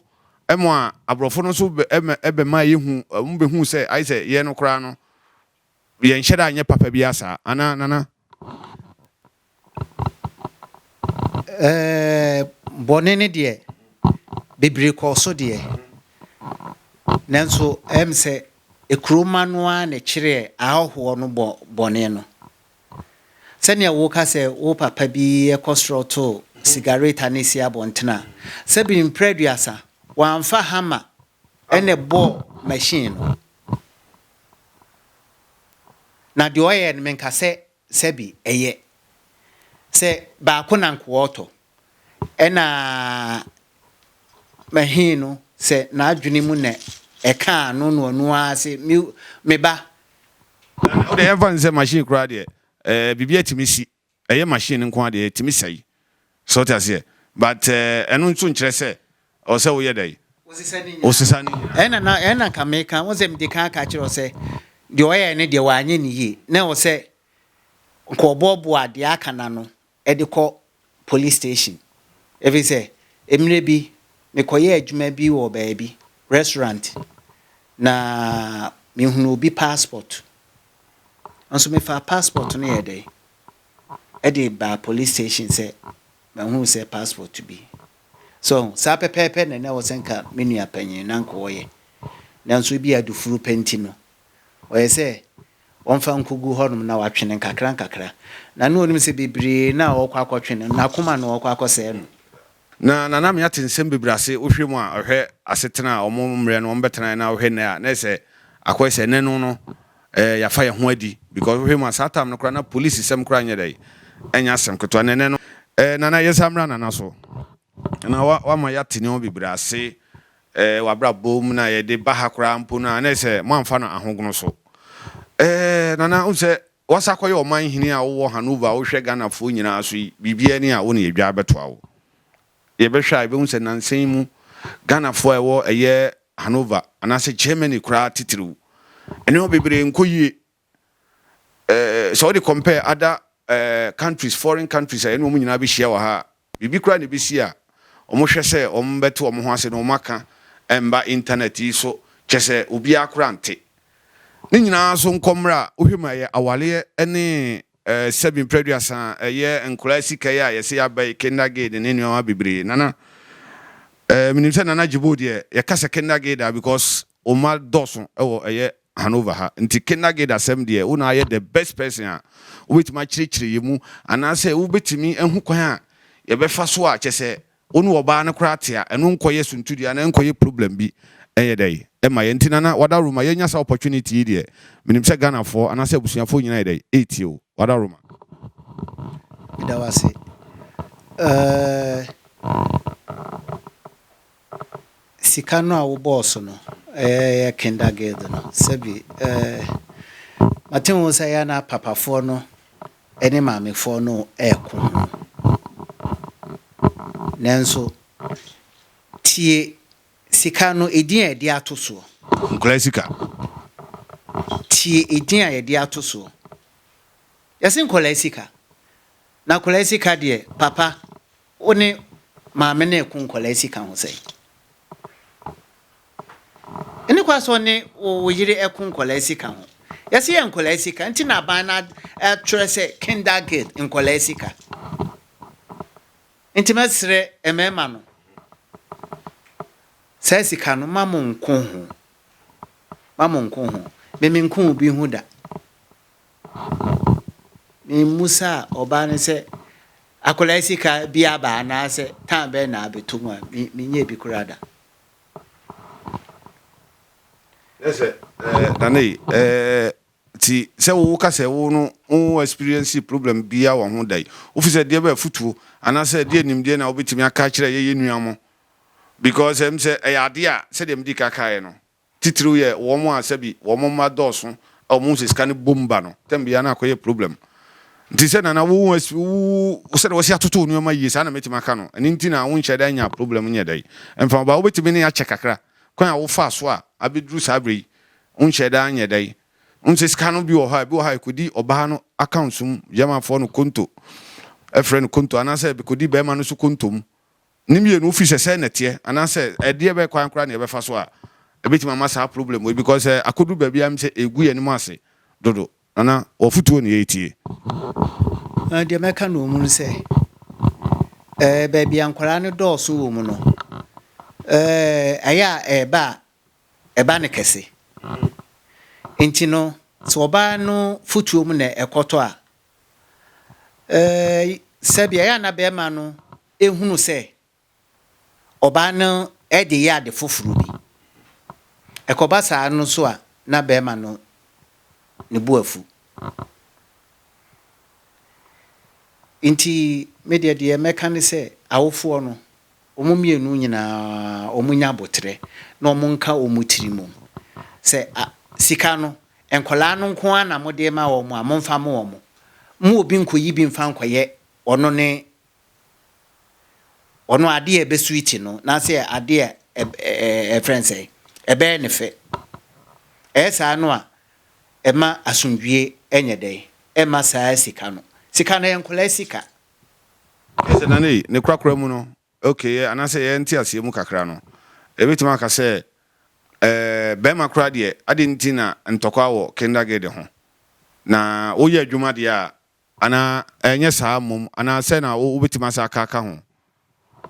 ɛmo a aborɔfo no so ɛmɛ ɛbɛma yɛhu ɔmo bɛhu sɛ ayi sɛ yɛ no koraa no Yɛnhyɛ da nyɛ papa biara saa, anaa, Nana? Ɛɛ, bɔne no deɛ, bebree kɔɔ so deɛ, nanso ɛm sɛ Ekuroma no ara na ɛkyerɛɛ ahɔhoɔ no bɔ bɔne no. Sɛdeɛ woka sɛ wo papa bi kɔ soro to sigareta na ɛsi abɔntene a, sɛ bi mprɛduasa, wamfa hammer na ɛbɔɔ machine no. Na deɛ ɔyɛɛ no, menka sɛ sɛbe ɛyɛ sɛ baako na nkoa ɔtɔ. Ɛna mahii no sɛ n'adwene mu na ɛkaa no na ɔno ara se, me, me ba. Wode yɛmfa no sɛ machine koraa deɛ, ɛɛ, biribi atumi si. Ɛyɛ machine nko ara deɛ ɛtumi sɛe so wote aseɛ but ɛno nso nkyerɛ sɛ ɛwɔ sɛ woyɛ dɛn wosesa ne nyinaa. Ɛna na ɛna nka meka wo sɛ mede kan aka kyerɛ wo sɛ deɛ ɔyɛɛ no deɛ wanyɛ no yie na ɛwɔ sɛ nka ɔboaboa deɛ aka no ano de kɔ police station ɛfiri sɛ mmerɛ bi mekɔyɛɛ adwuma bi wɔ baabi restaurant na mehunuu obi passport. Nso mefaa passport no yɛɛ dɛn ɛde baa police station sɛ mahunu sɛ passport bi. So ho, saa pɛpɛɛpɛ na na ɛwɔ sɛ nka me nua panyin na nka ɔyɛ. Nanso ebi a adufuru pɛ nti no, ɔyɛ sɛ ɔmfa nkogu hɔnom na watwe no nkakrankakra. Na na onim sɛ bebree no a ɔrekɔ akɔtwe no, n'akoma na ɔrekɔ akɔsɛe no. Na Nana me ate nsɛm bebree ase wohwɛ mu a ɔhwɛ asetena a ɔmo mmerɛ no ɔmo bɛtenaeɛ na wohwɛ nnɛ a na ɛsɛ akɔyɛ sɛ ɛnɛ no no ɛɛ yafa yɛn ho adi because wohwɛ mu a saa time no koraa na police sɛm koraa nyɛ dɛn ɛnyɛ asɛm ketewa na ɛnɛ no ɛɛ Nana yɛsa mmra Nana so na wa wama yɛate nneɛma bebree ase ɛɛ wabrabɔ mu na yɛde ba ha koraa mpo no a na ɛsɛ moanfa no ahogono so ɛɛ Nana wohu sɛ Wasa kɔyɛ ɔman hene a wowɔ Hanover a wohwɛ Ghana foɔ nyinaa so yi biribiara ni a wo na yɛdwa bɛtoa wo. Yɛbɛhwɛ a yɛbɛhu sɛ nansa yi mu Ghana foɔ a ɛwɔ ɛyɛ Hanover anaasɛ Germany koraa titiriw nneɛma bebree nkɔ yie eh, sɛ wode compare other eh, countries, foreign countries a yɛne wɔn nyinaa bɛhyia wɔ ha a Biribi koraa na ɛbɛsi a wɔhwɛ sɛ wɔbɛte wɔn ho ase na wɔaka mma intanɛt yi so, kyerɛ sɛ obiara koraa nte. Ne nyinaa so nkɔ mmerɛ a wohwɛ mu a ɛyɛ awareɛ ne sɛbi mprɛduasa, ɛyɛ nkwadaa sika yi a yɛse yɛaba yi, kindergarten ne nneɛma bebree. Nana, menim sɛ Nana Jibo deɛ yɛka sɛ kindergarten a because Wo mma dɔɔso wɔ ɛyɛ Hanover ha, nti Kinder-Gate asɛm deɛ, wo na ayɛ the best person a wobɛtumi akyerɛkyerɛ yɛ mu, anaasɛ wobɛtumi ahu kwan a yɛbɛfa so a kyɛsɛ wo ne ɔbaa no koraa te a ɛno nkɔyɛ suntudua anaa ɛnkɔyɛ problem bi ɛnyɛ dɛn ɛmma yɛn, nti Nana Wadaroma yɛanya saa opportunity yi deɛ, menim sɛ Ghanafoɔ anaasɛ abusuafoɔ nyinaa yɛ dɛn ɛretie wo, Wadaroma. Meda wo ase. Eh. Sika no a wo bɔɔ so no yɛ kindergirl no sɛbi eh mate ho sɛ yɛ na papafoɔ no ne maamefoɔ no ɛko ho nanso tie sika no edin a yɛde ato soɔ. Nkwadaa sika. Tie edin a yɛde ato soɔ yɛse nkwadaa sika na akwadaa sika deɛ papa Wo ne maame no reko nkwadaa sika ho sɛn? Ɛnni kwan sɛ ɔne wo wo yere reko nkwadaa sika ho. Yɛsi yɛ nkwadaa sika nti na aban no atwerɛ sɛ kindergate nkwadaa sika. Nti mɛsrɛ mmarima no saa sika no ma mo nko ho ma mo nko ho meme nko obi ho da Ne mmusa a ɔbaa ne sɛ, Akwadaa yi sika bi aba anaasɛ tan bɛn na abɛtɔ mu a menyɛɛ bi koraa da? Ẹ sẹ ẹ Nana yi ẹ ti sẹ wo ka sẹ wo no wo experience problem bia wọ ho da yi. Wo fi sẹ deɛ bẹ afutuo anaasɛ ɛdeɛ nimdeɛ na wobɛtumi aka akyerɛ yɛ yɛ nua mo? Because ɛm sɛ ɛyɛ adeɛ a sɛdeɛ medi ka kaeɛ no, Titiriw yɛ wɔn a sɛbi wɔn mma dɔɔso a wɔn sɛ sika no bom ba no tɛm biara na akɔyɛ problem. Nti sɛ Nana wo wo sɛdeɛ wɔsi atoto nneɛma yie saa na mɛtumi aka no. Ɛno nti na wonhyɛ da nya problem nyɛ dɛn mfa wo ba. Wobɛtumi ne akyɛ kakra kwan a wofaa so a abɛduru saa berɛ yi wonhyɛ da nyɛ dɛn. Wohu sɛ sika no bi wɔ hɔ a ebi wɔ hɔ a ɛkɔdi ɔbaa no accounts mu, Germanfoɔ no konto, ɛfrɛ no konto, anaasɛ ɛbɛkɔdi barima no nso konto mu. Ne mmienu fi sɛ sɛɛ na ɛteɛ anaasɛ ɛdeɛ bɛn kwan koraa na yɛbɛfa so a ɛbɛtumi ama saa problem wei because sɛ akɔduru baabi a mesɛ ɛgu yɛn anim ase dodo. Nana wo afotuo na yɛretie. Deɛ mɛka no wɔ mu ne sɛ eh baabi a nkwadaa no dɔɔso wɔ mu no eh ɛyɛ a ɛba a ɛba no kɛse nti no sɛ ɔbaa no fotuo mu na ɛkɔtɔ a eh sɛbi ɛyɛ a na bɛrima no hunu sɛ ɔbaa no de reyɛ ade foforo bi. Ɛkɔba saa no nso a, na barima no ne bo afu. Nti me deɛ deɛ mɛka ne sɛ awofoɔ no, wɔn mmienu nyinaa wɔnya aboterɛ na wɔnka wɔn tiri mu sɛ sika no, nkwadaa no nko ara na mode rema wɔn a, momfa mma wɔn. Mma obi nkɔyi bi mfa nkɔyɛ ɔno ne Ɔno adeɛ a ɛbɛ switch no n'asɛ adeɛ a ɛfrɛ no sɛ ɛbɛyɛ ne fɛ. Ɛyɛ saa no a ɛma asomdwie ɛnyɛ dɛn ɛma saa sika no. Sika no ɛyɛ nkwadaa sika. Ɛsɛ Nana yi ne korakora mu no okay yɛ anaasɛ yɛ nteaseɛ mu kakra no yɛbɛtumi aka sɛ ɛɛ bɛɛma koraa deɛ adɛn nti na ntɔkwa wɔ kindergarten ho? Na woyɛ adwuma deɛ a Anaa ɛnyɛ saa mmom? Anaa sɛ na wobɛtumi asan aka aka ho?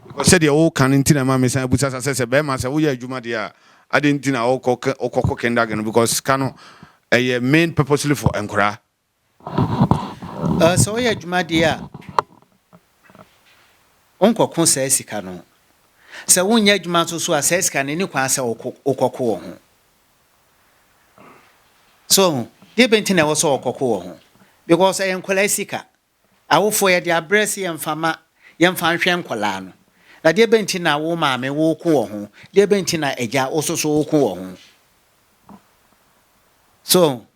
Because sɛdeɛ woka no nti na ɛma mesan bisa sa sɛ, sɛ bɛrima sɛ woyɛ adwuma deɛ a, adɛn nti na wokɔkɔ kindergarten no? Because sika no ɛyɛ main purposely for nkwadaa. Sɛ woyɛ adwuma deɛ a, wonkɔko saa sika no. Sɛ wonyɛ adwuma nso so a, saa sika no ɛnni kwan sɛ wokɔko wɔ ho. So ɔho, deɛ bɛ nti na ɛwɔ sɛ ɔkɔko wɔ ho? Because ɛyɛ nkɔlaa sika. Awofoɔ yɛde abrɛ sɛ yɛmfa ma, yɛmfa nhwɛ nkɔlaa no. Na deɛ bɛ nti na wo maame woko wɔ ho? Deɛ bɛ nti na agya wo soso woko wɔ ho? So ɔho,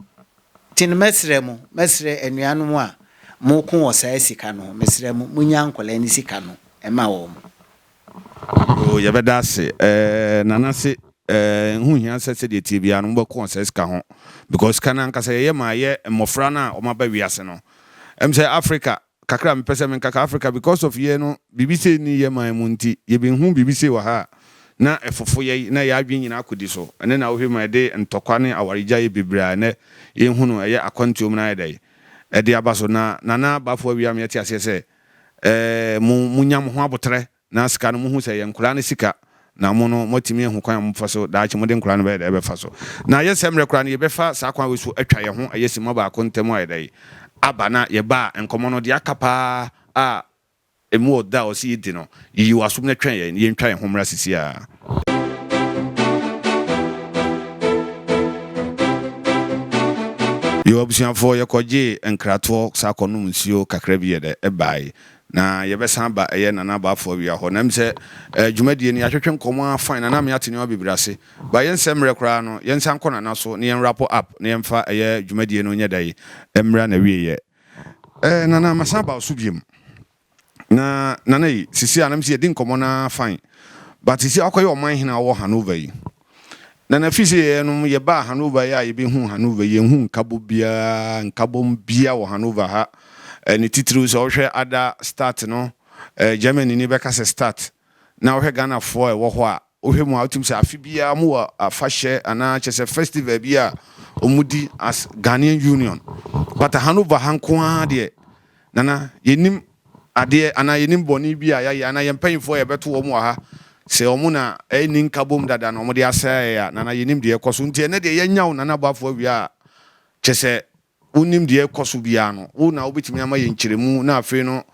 nti no mɛsrɛ mo, mɛsrɛ anuanom a moko wɔ saa sika no ho, mesrɛ mo, monya nkɔlaa no sika no, ɛma wɔn. Oh, yɛbɛda ase. Eh, Nana se, eh, ho hia sɛ sɛdeɛ ɛteɛ biara no mobɛko ɔsɛe sika ho, because sika no ankasa yɛyɛ ma ɛyɛ mmɔfra no a wɔaba wiase no. Ɛm sɛ Africa, kakra a mepɛ sɛ menka ka, Africa because of yɛn no, biribi sei nni yɛn man mu nti, yɛbɛhu biribi sei wɔ ha a, na ɛfofo yɛn, na yɛn adwene nyinaa akɔdi so. Ɛno na wohwɛ ma ɛde ntɔkwa ne awaregyaeɛ bebree a ɛnnɛ yɛhu no ɛyɛ akwantuo mu no ayɛ dɛn? Ɛde aba so. Na Nana Bafo Awia ama yɛate aseɛ sɛ, eh, mo, mo nya mo ho aboterɛ, na sika no mo hu sɛ ɛyɛ nkoraa no sika, na mo no mo atumi ahu kwan a mo bɛfa so, daakye mo de nkoraa no bɛyɛ dɛn bɛfa so. Na ayɛ sɛ mmerɛ koraa no yɛ bɛfa saa kwan wei so atwa yɛn ho ɛyɛ simma baako ntɛm ayɛ dɛn aba, na yɛ baa nkɔmɔ no deɛ aka paa a ɛmu ɔdɔ a ɔsɛ yɛ di no, yiyi wɔ asom na twɛn yɛn, yɛn twa yɛn ho mmra sisi a. Yo abusuafoɔ yɛkɔgyee nkratoɔ saa kɔnom nsuo kakra bi yɛdɛ ɛbaae na yɛbɛsan aba ɛyɛ Nana Abaafoɔ awia hɔ na ɛm sɛ dwumadie no yɛatwetwe nkɔmɔ ara fine Nana Ame ate nneɛma bebree ase but yɛnsɛ mmerɛ koraa no yɛnsan nkɔ Nana so na yɛn wrap up na yɛmfa ɛyɛ dwumadie no nyɛ dɛn mmra nawieɛ Nana masan aba wo so biom. Na Nana yi, sisi a na me si yɛdi nkɔmmɔ no ara fine. But sisi a wakɔyɛ ɔman hene a ɔwɔ Hanover yi. Nana fi sɛ yɛnom yɛbaa Hanover yi a yɛbɛhuu Hanover yi, yɛnhuu nkabɔ biara, nkabɔm biara wɔ Hanover ha. Eh, ne titiriw sɛ wohwɛ ada Stadt no, eh, Germany ni bɛka sɛ Stadt. Na wohwɛ Ghanafoɔ a ɛwɔ hɔ a, Wohwɛ mu a, wotumi sɛ afe biara wɔwɔ afahyɛ anaa kyerɛ sɛ festival bi a wɔdi as Ghanaian Union. But aha no Vaha nko ara deɛ, Nana, yɛnnim adeɛ anaa yɛnnim bɔne bi a yɛayɛ anaa yɛn mpanyimfoɔ a yɛbɛto wɔn wɔ ha sɛ wɔn na anni nkabom dada na wɔde asɛe yɛn a, Nana, yɛnnim deɛ ɛrekɔ so. Nti ɛnnɛ deɛ yɛanya wo Nana Boafo awia a, kyerɛ sɛ wonim deɛ ɛrekɔ so biara no, wo na wobɛtumi ama yɛn nkyerɛmu na afei no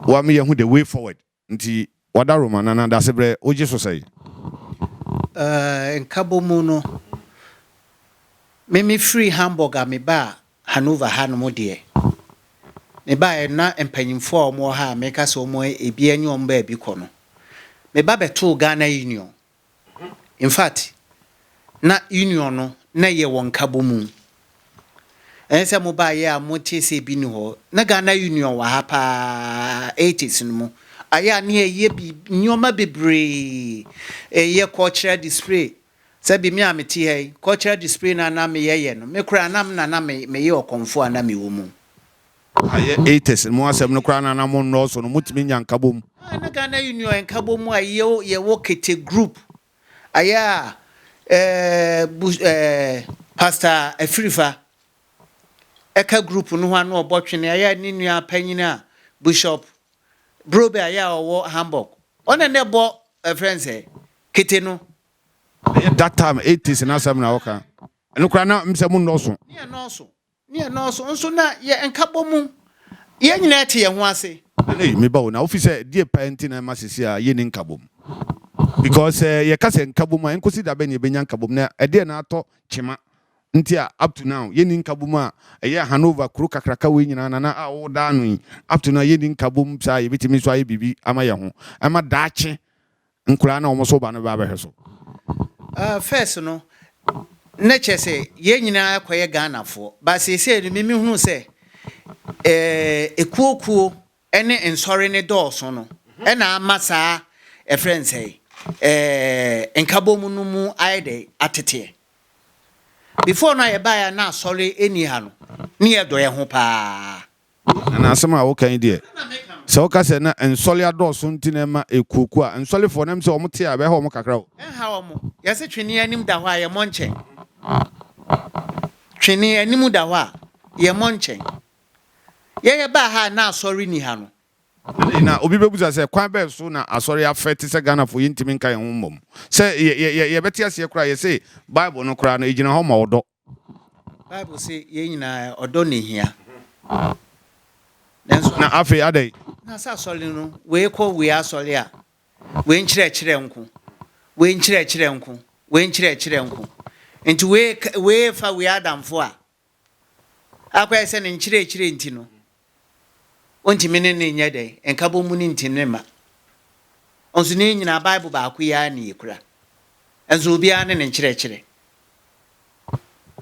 woama yɛahu the way forward. Nti wada Roma no anaa dasebrɛ wogye so sɛn? Nkabɔ mu no, me me firi Hamburg a me baa Hanover ha nom deɛ, me baeɛ no na mpanyinfoɔ a wɔn wɔ ha a meka sɛ wɔn ebi nye wɔn baabi kɔ no, me ba bɛtoo Ghana Union Infact, na Union no na ɛyɛ wɔ Nkabɔ mu. Ɛnyɛ sɛ mobaeɛ a motee sɛ ebi nni hɔ. Na Ghana Union wɔ ha pa ara, eighties no mu. Ayɛ a na yɛyɛ biribi, nneɛma bebree. Yɛyɛ cultural display. Sɛbe me a mete ha yi, cultural display no a na meyɛyɛ no, me koraa na me na na meyɛ ɔkɔmfoɔ a na mewɔ mu. Ayɛ eites no mu asɛm no koraa na na mo nnɔɔso no, motumi nya nkabom. Ayɛ na Ghana Union nkabom a yɛwɔ yɛwɔ kete group ayɛ a eh, bu eh, Pastor Afirifa ɛka group no ho a na ɔbɔ twene ayɛ a ne nua panyin a Bishop Brobe ayɛ a ɔwɔ Hamburg ɔna na ɛbɔ ɛfrɛ nsɛ kete no. Ɛyɛ that time eighties no asɛm na woka. Ɛno koraa na mesɛ mo nnɔɔso. Ne yɛ nnɔɔso. Ne yɛ nɔɔso nso na yɛ nkabɔ mu yɛ nyinaa te yɛ ho ase. Ei me ba o na wofi sɛ deɛ paa nti na ɛma sesi a yɛnni nkabom? Because sɛ yɛ ka sɛ nkabom a ɛnkosi da bɛn na yɛbɛnya nkabom na ɛdeɛn na atɔ kyema nti a up to now yɛnni nkabom a ɛyɛ Hanover kuro kakraka wei nyinaa na na a wo da ano yi up to now yɛnni nkabom saa a yɛbɛtumi nso ayɛ biribi ama yɛ ho ɛma daakye Nkwadaa na wɔn so ba no bɛ abɛhwɛ so. Ah first no na kyerɛ sɛ yɛn nyinaa kɔyɛ Ghana foɔ but seesei no me mehunu sɛ eh, ekuo kuo ne nsɔre ne dɔɔso no ɛna ama saa ɛfrɛ no sɛ eh, nkabom no mu ayɛ dɛ ateteɛ. Before no a yɛbaeɛ a na asɔre ɛni ha no ne yɛdɔ yɛn ho paa Ana asɛm a woka yi deɛ, sɛ woka sɛ na nsɔle adɔɔso nti na ɛma ɛkuokuo a, nsɔlefoɔ no ɛm sɛ wɔn te a ɛbɛha wɔn kakra o. Ɛnha wɔn. Yɛse twene anim da hɔ a, yɛmmɔ nkyɛn. Twene anim da hɔ a, yɛmmɔ nkyɛn. Yɛyɛ baa ha a, na asɔre nni ha no. Na obi bɛbusa sɛ, kwan bɛn so na asɔre afɛ te sɛ Ghanafoɔ yɛntumi nka yɛn ho mmom? Sɛ yɛbɛte aseɛ koraa a, yɛse Bible no koraa no, ɛgyina hɔ ma ɔdɔ. Bible se yɛn nyinaa ɔdɔ na ehia. Nanso na afei adɛn? Na sɛ asɔre no wei kɔ wei asɔre a wei nkyerɛkyerɛ nko, wei nkyerɛkyerɛ nko, wei nkyerɛkyerɛ nko. Nti wei wei fa wei adamfo a akɔyɛ sɛ ne nkyerɛkyerɛ nti no Ontumi ne ne nyɛ dɛn? Nkabom mu no nti ne mma. Nso ne yɛn nyinaa Bible baako yi ara na yɛkura. Nso obiara ne ne nkyerɛkyerɛ.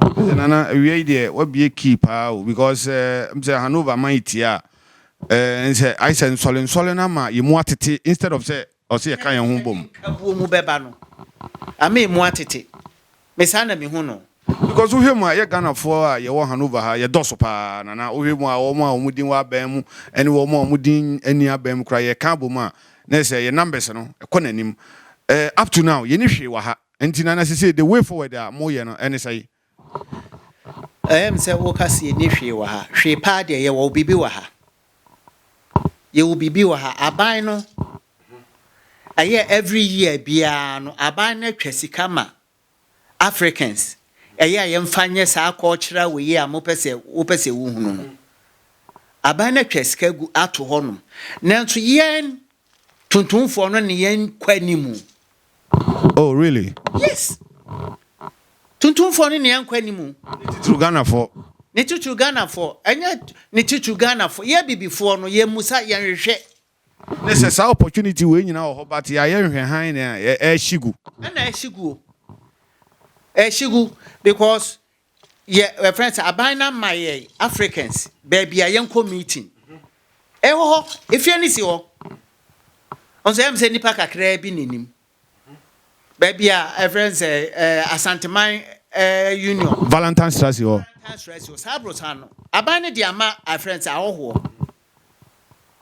Sɛ Nana awia yi deɛ wabie key paa o because eh, m sɛ Hanover man yi tie a eh, nsɛ ayɛ sɛ nsɔlensɔle no ama yɛn mu atete instead of sɛ Ɔse yɛka yɛn ho bom. Sɛnea nkabuo mu bɛba no ama emu atete me saa na mehu no. Because wohwɛ mu a yɛ Ghanafoɔ a yɛwɔ Hanover ha yɛ dɔso paa Nana wohwɛ mu a wɔn a wɔn din wɔ aban mu ɛne wɔn a wɔn din nni aban mu koraa yɛka abɔ mu a na ɛsɛ yɛ numbers no kɔ n'anim ɛɛ up to now yɛnni hwee wɔ ha nti Nana sesei the way forward a moyɛ no ɛne sɛn? Ɛyɛ me sɛ woka sɛ yɛnni hwee wɔ ha. Hwee paa deɛ yɛwɔ biribi wɔ ha. Yɛwɔ biribi wɔ ha. Aban no, ɛyɛ every year biara no, aban no atwa sika ma Africans. Ɛyɛ a yɛmfa nyɛ saa cultural wei a mopɛ sɛ wopɛ sɛ wohunu no. Aban no atwa sika gu ato hɔnom. Nanso yɛn tuntumfoɔ no ne yɛn kɔ anim. Oh really? Yes. Tuntumfoɔ no nea nkɔ anim. Ne titiriw Ghanafoɔ. Ne titiriw Ghanafoɔ. Ɛnyɛ ne titiriw Ghanafoɔ. Yɛ bibifoɔ no yɛ musa yɛ nhwehwɛ. Ne sɛ saa opportunity wei nyinaa wɔ hɔ but yɛ ayɛ nhwɛ han na ɛrehye gu. Ɛna ɛrehye gu o. Ɛrehye gu because Yɛ yɛfrɛ sɛ aban na ma yɛ Africans baabi a yɛnkɔ meeting. Ɛwɔ hɔ, efie no si hɔ. Ɔnso ɛyɛ sɛ nipa kakraa bi na nim. Baabi a ɛfrɛ sɛ ɛɛ Asanteman ɛɛ Union. Valentine Sra si hɔ. Valentine Sra si hɔ. Saa aborosan no, aban no de ama afrɛ sɛ ahɔhoɔ.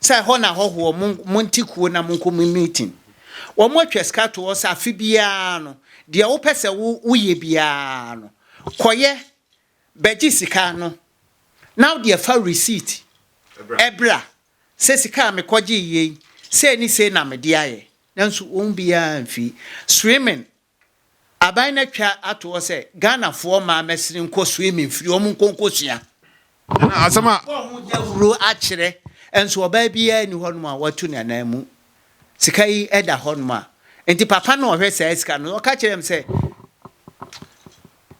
Sɛ ɛhɔ na ahɔhoɔ mo monte kuo na monkɔ mo meeting. Wɔn atwa sika to hɔ sɛ afe biara no deɛ wopɛ sɛ wo woyɛ biara no kɔyɛ bɛgye sika no na wo deɛ fa receipt ɛbra sɛ sika a mekɔgye yei sei ne sei na mede ayɛ nanso wɔn biara mfii swimming Aban no atwa ato hɔ sɛ Ghanafoɔ mmaa mɛsene nkɔ swimming mfiri wɔn nkɔ nkɔsua. Na asɛm a. Wɔabɔ ho dawuro akyerɛ nso ɔbaa biara nni hɔnom a watu ne anan mu. Sika yi da hɔnom a nti papa no a ɔhwɛ saa sika no ɔka kyerɛɛ me sɛ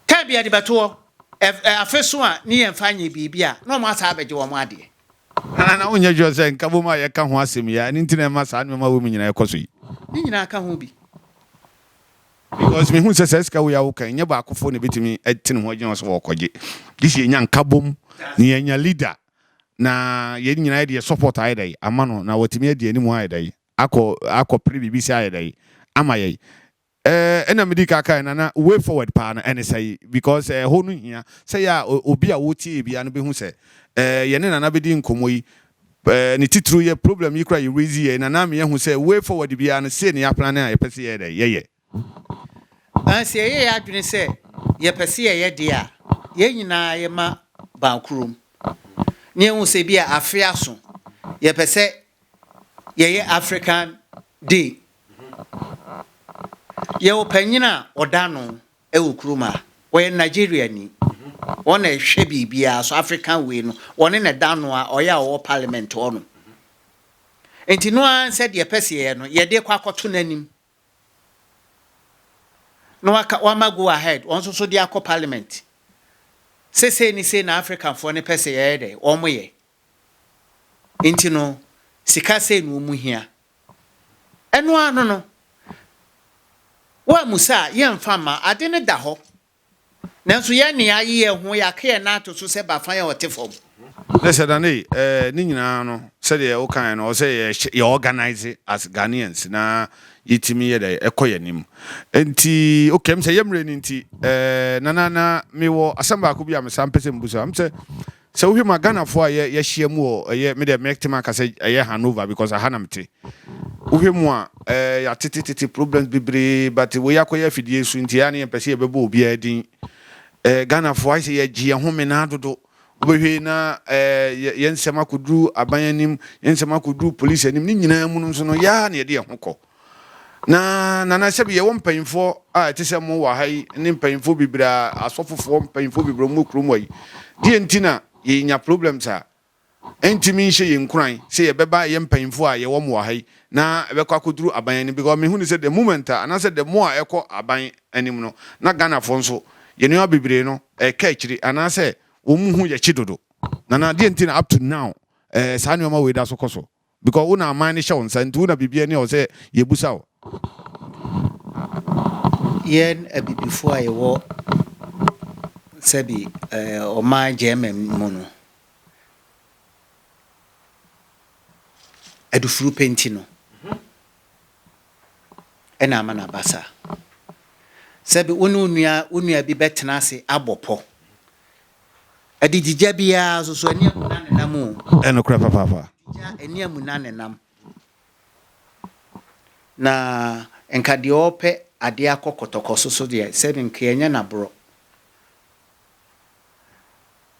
time bi yɛde bɛto hɔ afeso a ne yɛmfa nyɛ biribi a na wɔn asan abɛgye wɔn adeɛ. Anaa na wonyɛ sure sɛ nkabom a yɛka ho asɛm yi ara ne nti na ɛma saa nneɛma wei mu nyinaa ɛkɔ so yi? Ne nyinaa ka ho bi. Because mehu sɛ saa sika wei a woka yi, nyɛ baakofoɔ na ɛbɛtumi atene ho agyina hɔ sɛ wɔrekɔgye. Gye sɛ yɛnya nkabom na yɛanya leader na yɛn nyinaa yɛde yɛn support ayɛ dɛn ama no na watumi adi anim ayɛ dɛn akɔ akɔpere biribi sɛ ayɛ dɛn ama yɛn. Eh na medi ka kae nana way forward paa no ɛne sɛi because eh hɔ no hia sɛ yɛ a obi a wotie yɛ biaa no bɛhu sɛ eh yɛne nana bɛdi nkɔmmɔ yi eh ne titiriw yɛ problem yi koraa yɛ raise yɛ nana ama yɛahu sɛ way forward biaa no sei ne yɛ plane a yɛpɛ sɛ yɛyɛ dɛn yɛyɛ. Na sɛ yɛyɛ yɛ adwene sɛ yɛpɛ sɛ yɛyɛ deɛ a yɛn nyinaa yɛma ban korom na yɛhu sɛ ebia afe aso yɛpɛ sɛ yɛyɛ African day Yɛwɔ panyin a ɔda ano wɔ kurom ha. Ɔyɛ Nigeriani. Ɔno na ɛhwɛ biribiara so, African wei no. Ɔno na ɛda ano a ɔyɛ a ɔwɔ parliament hɔnom. Nti no ara sɛ deɛ ɛpɛ sɛ yɛyɛ no, yɛde kɔ akɔto n'anim. Na waka wama go ahead, wɔn nso so de akɔ parliament. Sɛ sei ne sei na Africanfoɔ no pɛ sɛ yɛyɛ dɛ, wɔn yɛ. Nti no, sika sei na wɔn hia. Ɛno ara no no, woammisa a, yɛremfa mma. Ade no da hɔ. Nanso yɛn nne aye yɛn ho, yɛaka yɛn nan ato so sɛ Bafan a ɔte fam. Na sɛ Daney, eh, ne nyinaa no, sɛdeɛ wokaeɛ no, ɔsɛ yɛhyɛ, yɛ organise as Ghanaians na yɛtumi yɛ dɛn, ɛkɔ yɛn anim. Enti, okay, ɛm sɛ yɛ mmerɛ no nti, eh, Nana, na mewɔ asɛm baako bi a mesan pɛ sɛ mebusa wo. Ɛm sɛ, Sɛ wohwɛ mu a Ghana foɔ a yɛ yɛhyia mu wɔ ɛyɛ me deɛ mɛ te maka sɛ ɛyɛ Hanover because aha na mete. Wohwɛ mu a ɛɛ yɛatete tete problems bebree but wei akɔyɛ afidie so nti ɛyɛ a ne yɛmpɛ sɛ yɛbɛbɔ obiara din. Ɛɛ Ghana foɔ ayɛ sɛ yɛgye yɛn ho menaa dodo. Wobɛhwɛ na ɛɛ yɛn nsɛm akɔduru aban anim, yɛn nsɛm akɔduru police anim ne nyinaa mu no nso no yɛ ara na yɛde yɛn ho kɔ. Na nana sɛbi yɛwɔ mpanyinfoɔ a ɛte sɛ mo wɔ ha yi ne mpanyinfoɔ bebree a asɔfofoɔ mpanyinfoɔ bebree a wɔwɔ kurom ha yi deɛ nti na yɛnya problems a ɛntumi nhyɛ yɛn nkuran sɛ yɛbɛba yɛ mpanyinfoɔ a yɛwɔ mo wɔ ha yi na ɛbɛkɔ akɔduru aban anim because mehu ne sɛ the moment a anaasɛ the more a ɛkɔ aban anim no na Ghanafoɔ nso yɛn nneɛma bebree no ɛka akyiri anaasɛ wɔn mu ho yɛ kye dodo nana deɛ nti na up to now ɛɛ saa nneɛma wei da so kɔ so. because wo na aman no hyɛ wo nsa nti wo na biribiara ni a ɛwɔ sɛ yɛbusa wo. Yɛn abibifoɔ a yɛwɔ sɛbi ɔman German mu no, adufuru pɛ nti no ɛna ama no aba saa. Sɛbi wo ne wo nua bi bɛtena ase abɔ pɔ Adididya biara nso so, ani amu na nenam o. Ɛyɛ nokorɛ papaapa. Adididya, ani amu na nenam. Na nka deɛ ɔrepɛ adeɛ akɔ kɔtɔkɔ so so deɛ, sɛ no nka ɛnyɛ n'aborɔ.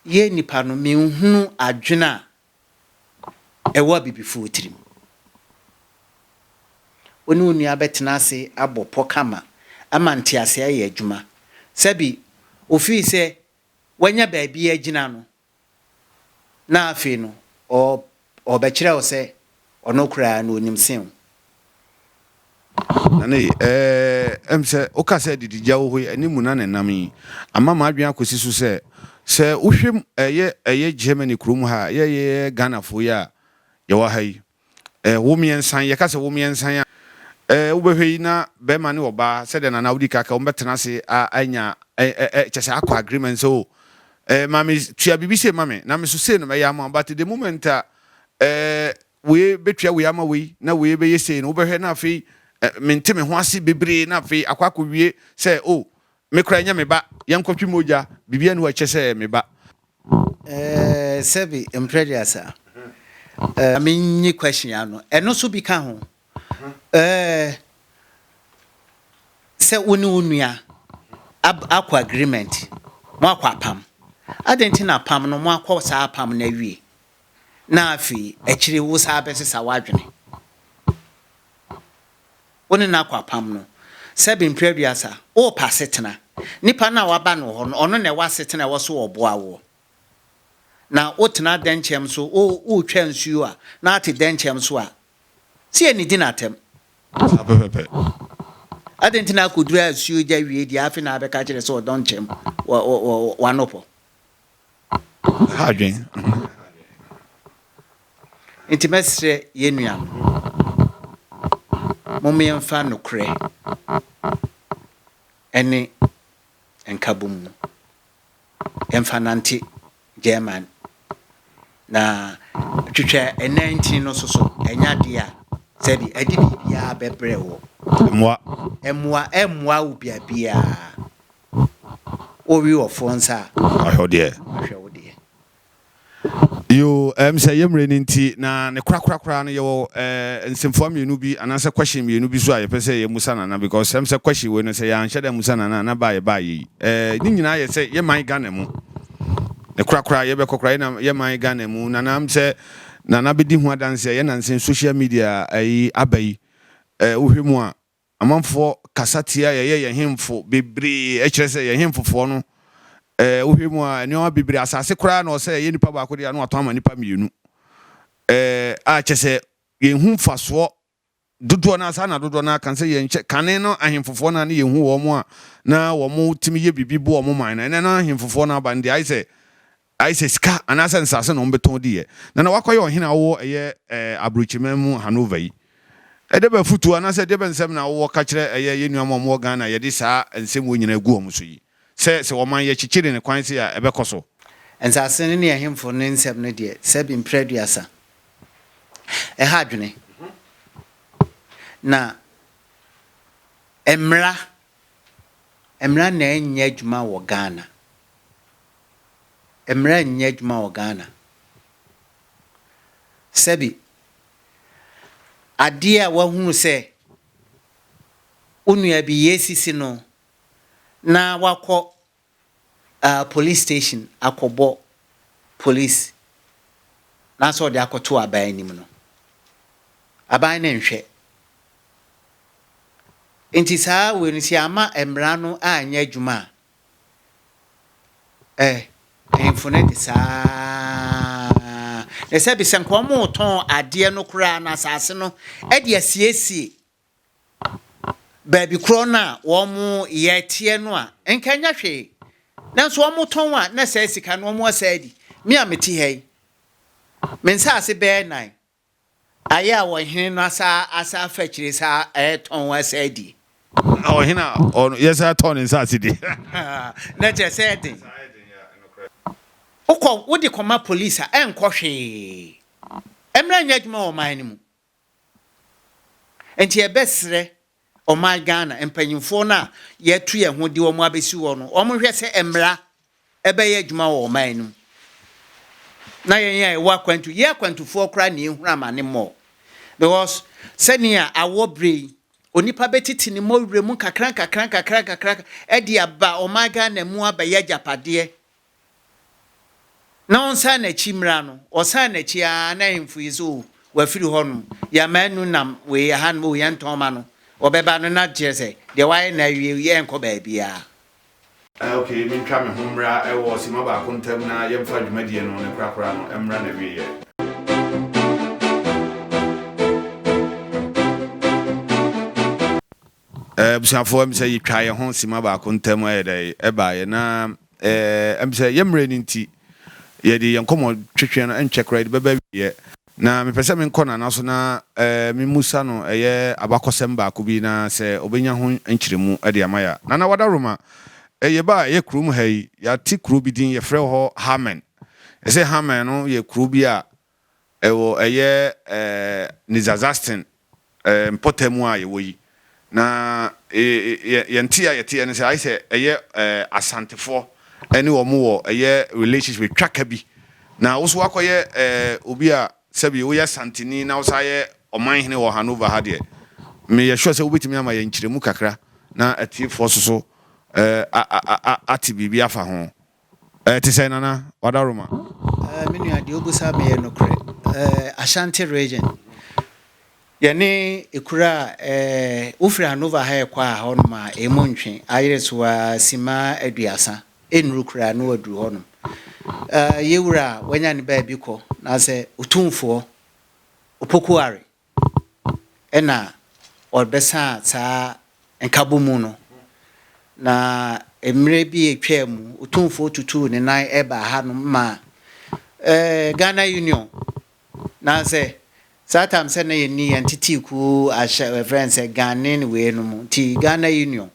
Yɛn nnipa no, menhunu adwene a ɛwɔ abibifoɔ tirim. Wo ne wo nua bɛtena ase abɔ pɔ kama ama nteaseɛ ayɛ adwuma. Sɛbi ɔfiri sɛ wanya baabi agyina no, na afei no ɔɔb, ɔɔbɛkyerɛ wo sɛ Ɔno koraa na ɔnim sen wo. Nane, Ɛɛ, ɛm sɛ woka sɛ adididya wɔ hɔ yi, ɛne mu na na ɛnam yi. Ama m'adwene akɔsi so sɛ, sɛ wohwɛ mu, ɛyɛ, ɛyɛ Germany kuro mu ha a, yɛ, yɛ, yɛ Ghanafoɔ yi a yɛwɔ ha yi, ɛɛ, wo mmiɛnsa yi, yɛka sɛ wo mmiɛnsa yi a, ɛɛ, wobɛhwɛ yi na barima ne ɔbaa, sɛdeɛ Nana wodi ka ka, wɔbɛtena ase a, anya, ɛ, ɛ, ɛ, kyɛ sɛ akɔ agreement sɛ, o, ɛɛ, maame, tua biribi sei ma me, na me nso sei na mɛyɛ ama wo, but the moment a, Ɛɛ, wei bɛtua wei ama wei, na wei bɛyɛ sei no, wobɛhwɛ na afei ɛ, mente me ho ase bebree, na afei akɔ akɔwie sɛ, o, oh, me koraa ɛnyɛ me ba, yɛnkɔtwe mogya, biribiara ni hɔ a ɛkyɛ sɛ ɛyɛ me ba. Ɛɛ, sɛbi mprɛdeasa. Ɛɛ, ma menyi question ano. Ɛno nso bi ka ho. Ɛɛ, sɛ wo ne wo nua ab, akɔ agreement, moakɔ apam. Adɛn nti na apam no, moakɔ saa apam no awie? na afei akyiri yi wosan bɛsesa w'adwene. Wo ne no akɔ apam no, sɛbe mprɛ aduasa, worepɛ asetena. Nipa no a waba no hɔ no, ɔno na ɛwɔ asetena a ɛwɔ so ɔboa woɔ. Na wotena dɛnkyɛm so, woretwa nsuo a, na woate dɛnkyɛm so a, sɛ yɛnnidi no atɛm. Saa pɛpɛpɛ. Adɛn nti na akɔduru asuogya wie deɛ afei na abɛka kyerɛ sɛ ɔdɔnkyɛm w'anopɔ? ha adwen nti mɛsrɛ yɛn nua no mo mmeɛmfa nokorɛ ɛne nkabom no yɛmfa nante German na twitwa ɛnan ntini no so so ɛnyɛ adeɛ a sɛde ɛde biribiara bɛbrɛ wɔ mmoa mmoa ɛmmoa wo biabiara Wo we wɔ foɔ nsa a. Ahwɛ wo deɛ. Ahwɛ wo deɛ. Yoo ɛm sɛ yɛ mmerɛ no nti na ne korakora koraa no yɛwɔ eh, nsɛmfua mmienu bi anaasɛ question mmienu bi so a yɛpɛ sɛ yɛmusa Nana because ɛm sɛ question wei no sɛ yɛanhyɛ da amusa Nana a na baa yɛbaa yei eh, ne nyinaa yɛ sɛ yɛ man Ghana mu ne korakora yɛbɛkɔ koraa yɛ, yɛ man Ghana mu Nana m sɛ Nana bɛdi ho adanseɛ yɛ nansa social media ayi aba yi eh, wohwɛ mu a Amanfoɔ kasa tia yɛyɛ yɛn hemfo bebree ɛkyerɛ sɛ yɛn hemfofoɔ no ɛɛ wohwɛ mu a nneɛma bebree asase koraa na ɔsɛ ɛyɛ nipa baako deɛ ano atɔn ama nipa mmienu ɛɛ a kyɛ sɛ yɛn hu mfasoɔ dodoɔ naa saa na dodoɔ naa kan sɛ yɛn kyɛ kane no ahemfofoɔ naa ne yɛn hu wɔn a na wɔn tumi yɛ biribi bo wɔn man no ɛnɛ no ahemfofoɔ no aba no deɛ ayɛ sɛ Ayɛ sɛ sika anaasɛ nsase na wɔbɛtɔn di yɛ, na na wakɔyɛ ɔhene a ɔwɔ ɛyɛ aburokyiman mu Hanover yi. Ɛdɛ bɛn afotuo anaasɛ ɛdeɛ bɛn nsɛm na wowɔ ka kyerɛ ɛyɛ yɛn nuanom a wɔwɔ Ghana a yɛde saa nsɛmmuo nyinaa agu wɔn so yi, sɛ sɛ wɔman yɛ kyekyere no kwan sei a ɛbɛkɔ so? Nsase no ne ahemfo no nsɛm no deɛ sɛbi mprɛ aduasa. Ɛha adwene. Na mmara Mmara na ɛnyɛ adwuma wɔ Ghana. Mmara nyɛ adwuma wɔ Ghana. Sɛbi, adeɛ a wahunu sɛ wo nua bi yɛ sisi no na wakɔ ah police station akɔbɔ police naasɛ ɔde akɔto aban anim no, aban no nhwɛ. Nti saa wei no sɛ yɛama mmara no anyɛ adwuma a, ɛ, mpanyimfo no de saa ara. Na sɛbi sɛ nka wɔretɔn adeɛ no koraa no, asase no de asiesie. baabi korɔ no a wɔyɛ teɛ no a, nka ɛnyɛ hwee. Nanso wɔtɔn a, na saa sika no wɔasa adi. Me a mete ha yi, me nsaase bɛyɛ nnan ayɛ a ɔhene no asa asa afa akyire saa ɛretɔn asa adi. Na ɔhene a ɔno yɛsan tɔn ne nsaase di. Na kyerɛ sɛ ɛyɛ den. Wokɔ wode kɔma polisi a ɛnkɔ hwee. Mmara nyɛ adwuma wɔ ɔman no mu. Nti yɛbɛsrɛ ɔman Ghana mpanyimfoɔ no a yɛatu yɛn ho de wɔn abɛsi hɔ no, wɔnhwɛ sɛ mmara ɛbɛyɛ adwuma wɔ ɔman no mu. Na yɛn a yɛwɔ akwantu, yɛn akwantufoɔ koraa na yɛhunu amane mmɔɔ. Because sɛnea awɔ berɛ yi, onipa bɛtete ne mmɔwerɛ mu nkakrankakra nkakrankakra de aba ɔman Ghana mu abɛyɛ agyapadeɛ na ɔnsan n'akyi mmra no, ɔsan n'akyi ara na ahemfo yi sɛ, oh, wafiri hɔnom, yɛama anu nam wei ha nom, oh, yɛntɔn ma no, ɔbɛba no na kyerɛ sɛ, deɛ wayɛ no awie, yɛrenkɔ baabiara. Eh, ok, mentwa me ho mmra wɔ simma baako ntam na yɛmfa dwumadie no, ne korakora no, mmra n'awieɛ. Abusuafoɔ, ɛmsɛ yɛtwaa yɛn ho sima baako ntam ɛyɛ dɛ ɛbaeɛ na ɛmsɛ yɛn mmerɛ no nti yɛde yɛn nkɔmmɔ twetweɛ no ɛntwɛ koraa yɛde bɛba awieɛ na mepɛ sɛ menkɔ Nana so na memusa no ɛyɛ abakɔsɛm baako bi na sɛ ɔbɛnya ho nkyerɛmu de ama yɛn a. Nana Wadaroma, yɛbaa ɛyɛ kurom ha yi, yɛate kuro bi din yɛfrɛ hɔ Harmɛn. Ɛsɛ Harmɛn no yɛ kuro bi a Ɛwɔ ɛyɛ Nidzadzastin mpɔtam a yɛwɔ yi, na yɛn te a yɛteɛ ne sɛ ayɛ sɛ ɛyɛ Asantefoɔ ne wɔn wɔ ɛyɛ relationship, ɛtwa ka bi. Na wo nso woakɔyɛ obi a sɛbi woyɛ Asanteni na wosan yɛ Ɔmanhene wɔ Hanover ha deɛ, meyɛ sure sɛ wobɛtumi ama yɛn nkyerɛmu kakra na atiefoɔ nso so ate biribi afa ho. Ɛte sɛn Nana Wadaroma? Me nua deɛ wobusa me yɛ nokorɛ. Ashanti region yɛne ekuro a wofiri Anova ha ɛkɔ a hɔ nom a ɛmu ntwe ayere so a sima aduasa ɛnnuru koraa na waduru hɔ nom. Yewura a wanya ne baabi kɔ na sɛ Otumfoɔ Opoku Ware na wɔbɛsaa saa nkabɔmu no, na mmerɛ bi a ɛtwaa mu, Otumfoɔ tutuu ne nan baa hanom maa eh, Ghana Union. Nansɛ saa tam sɛ na yɛnni yɛn tetee kuo ahyɛ ɛfrɛ no sɛ Ghanaian wei no mu nti Ghana Union.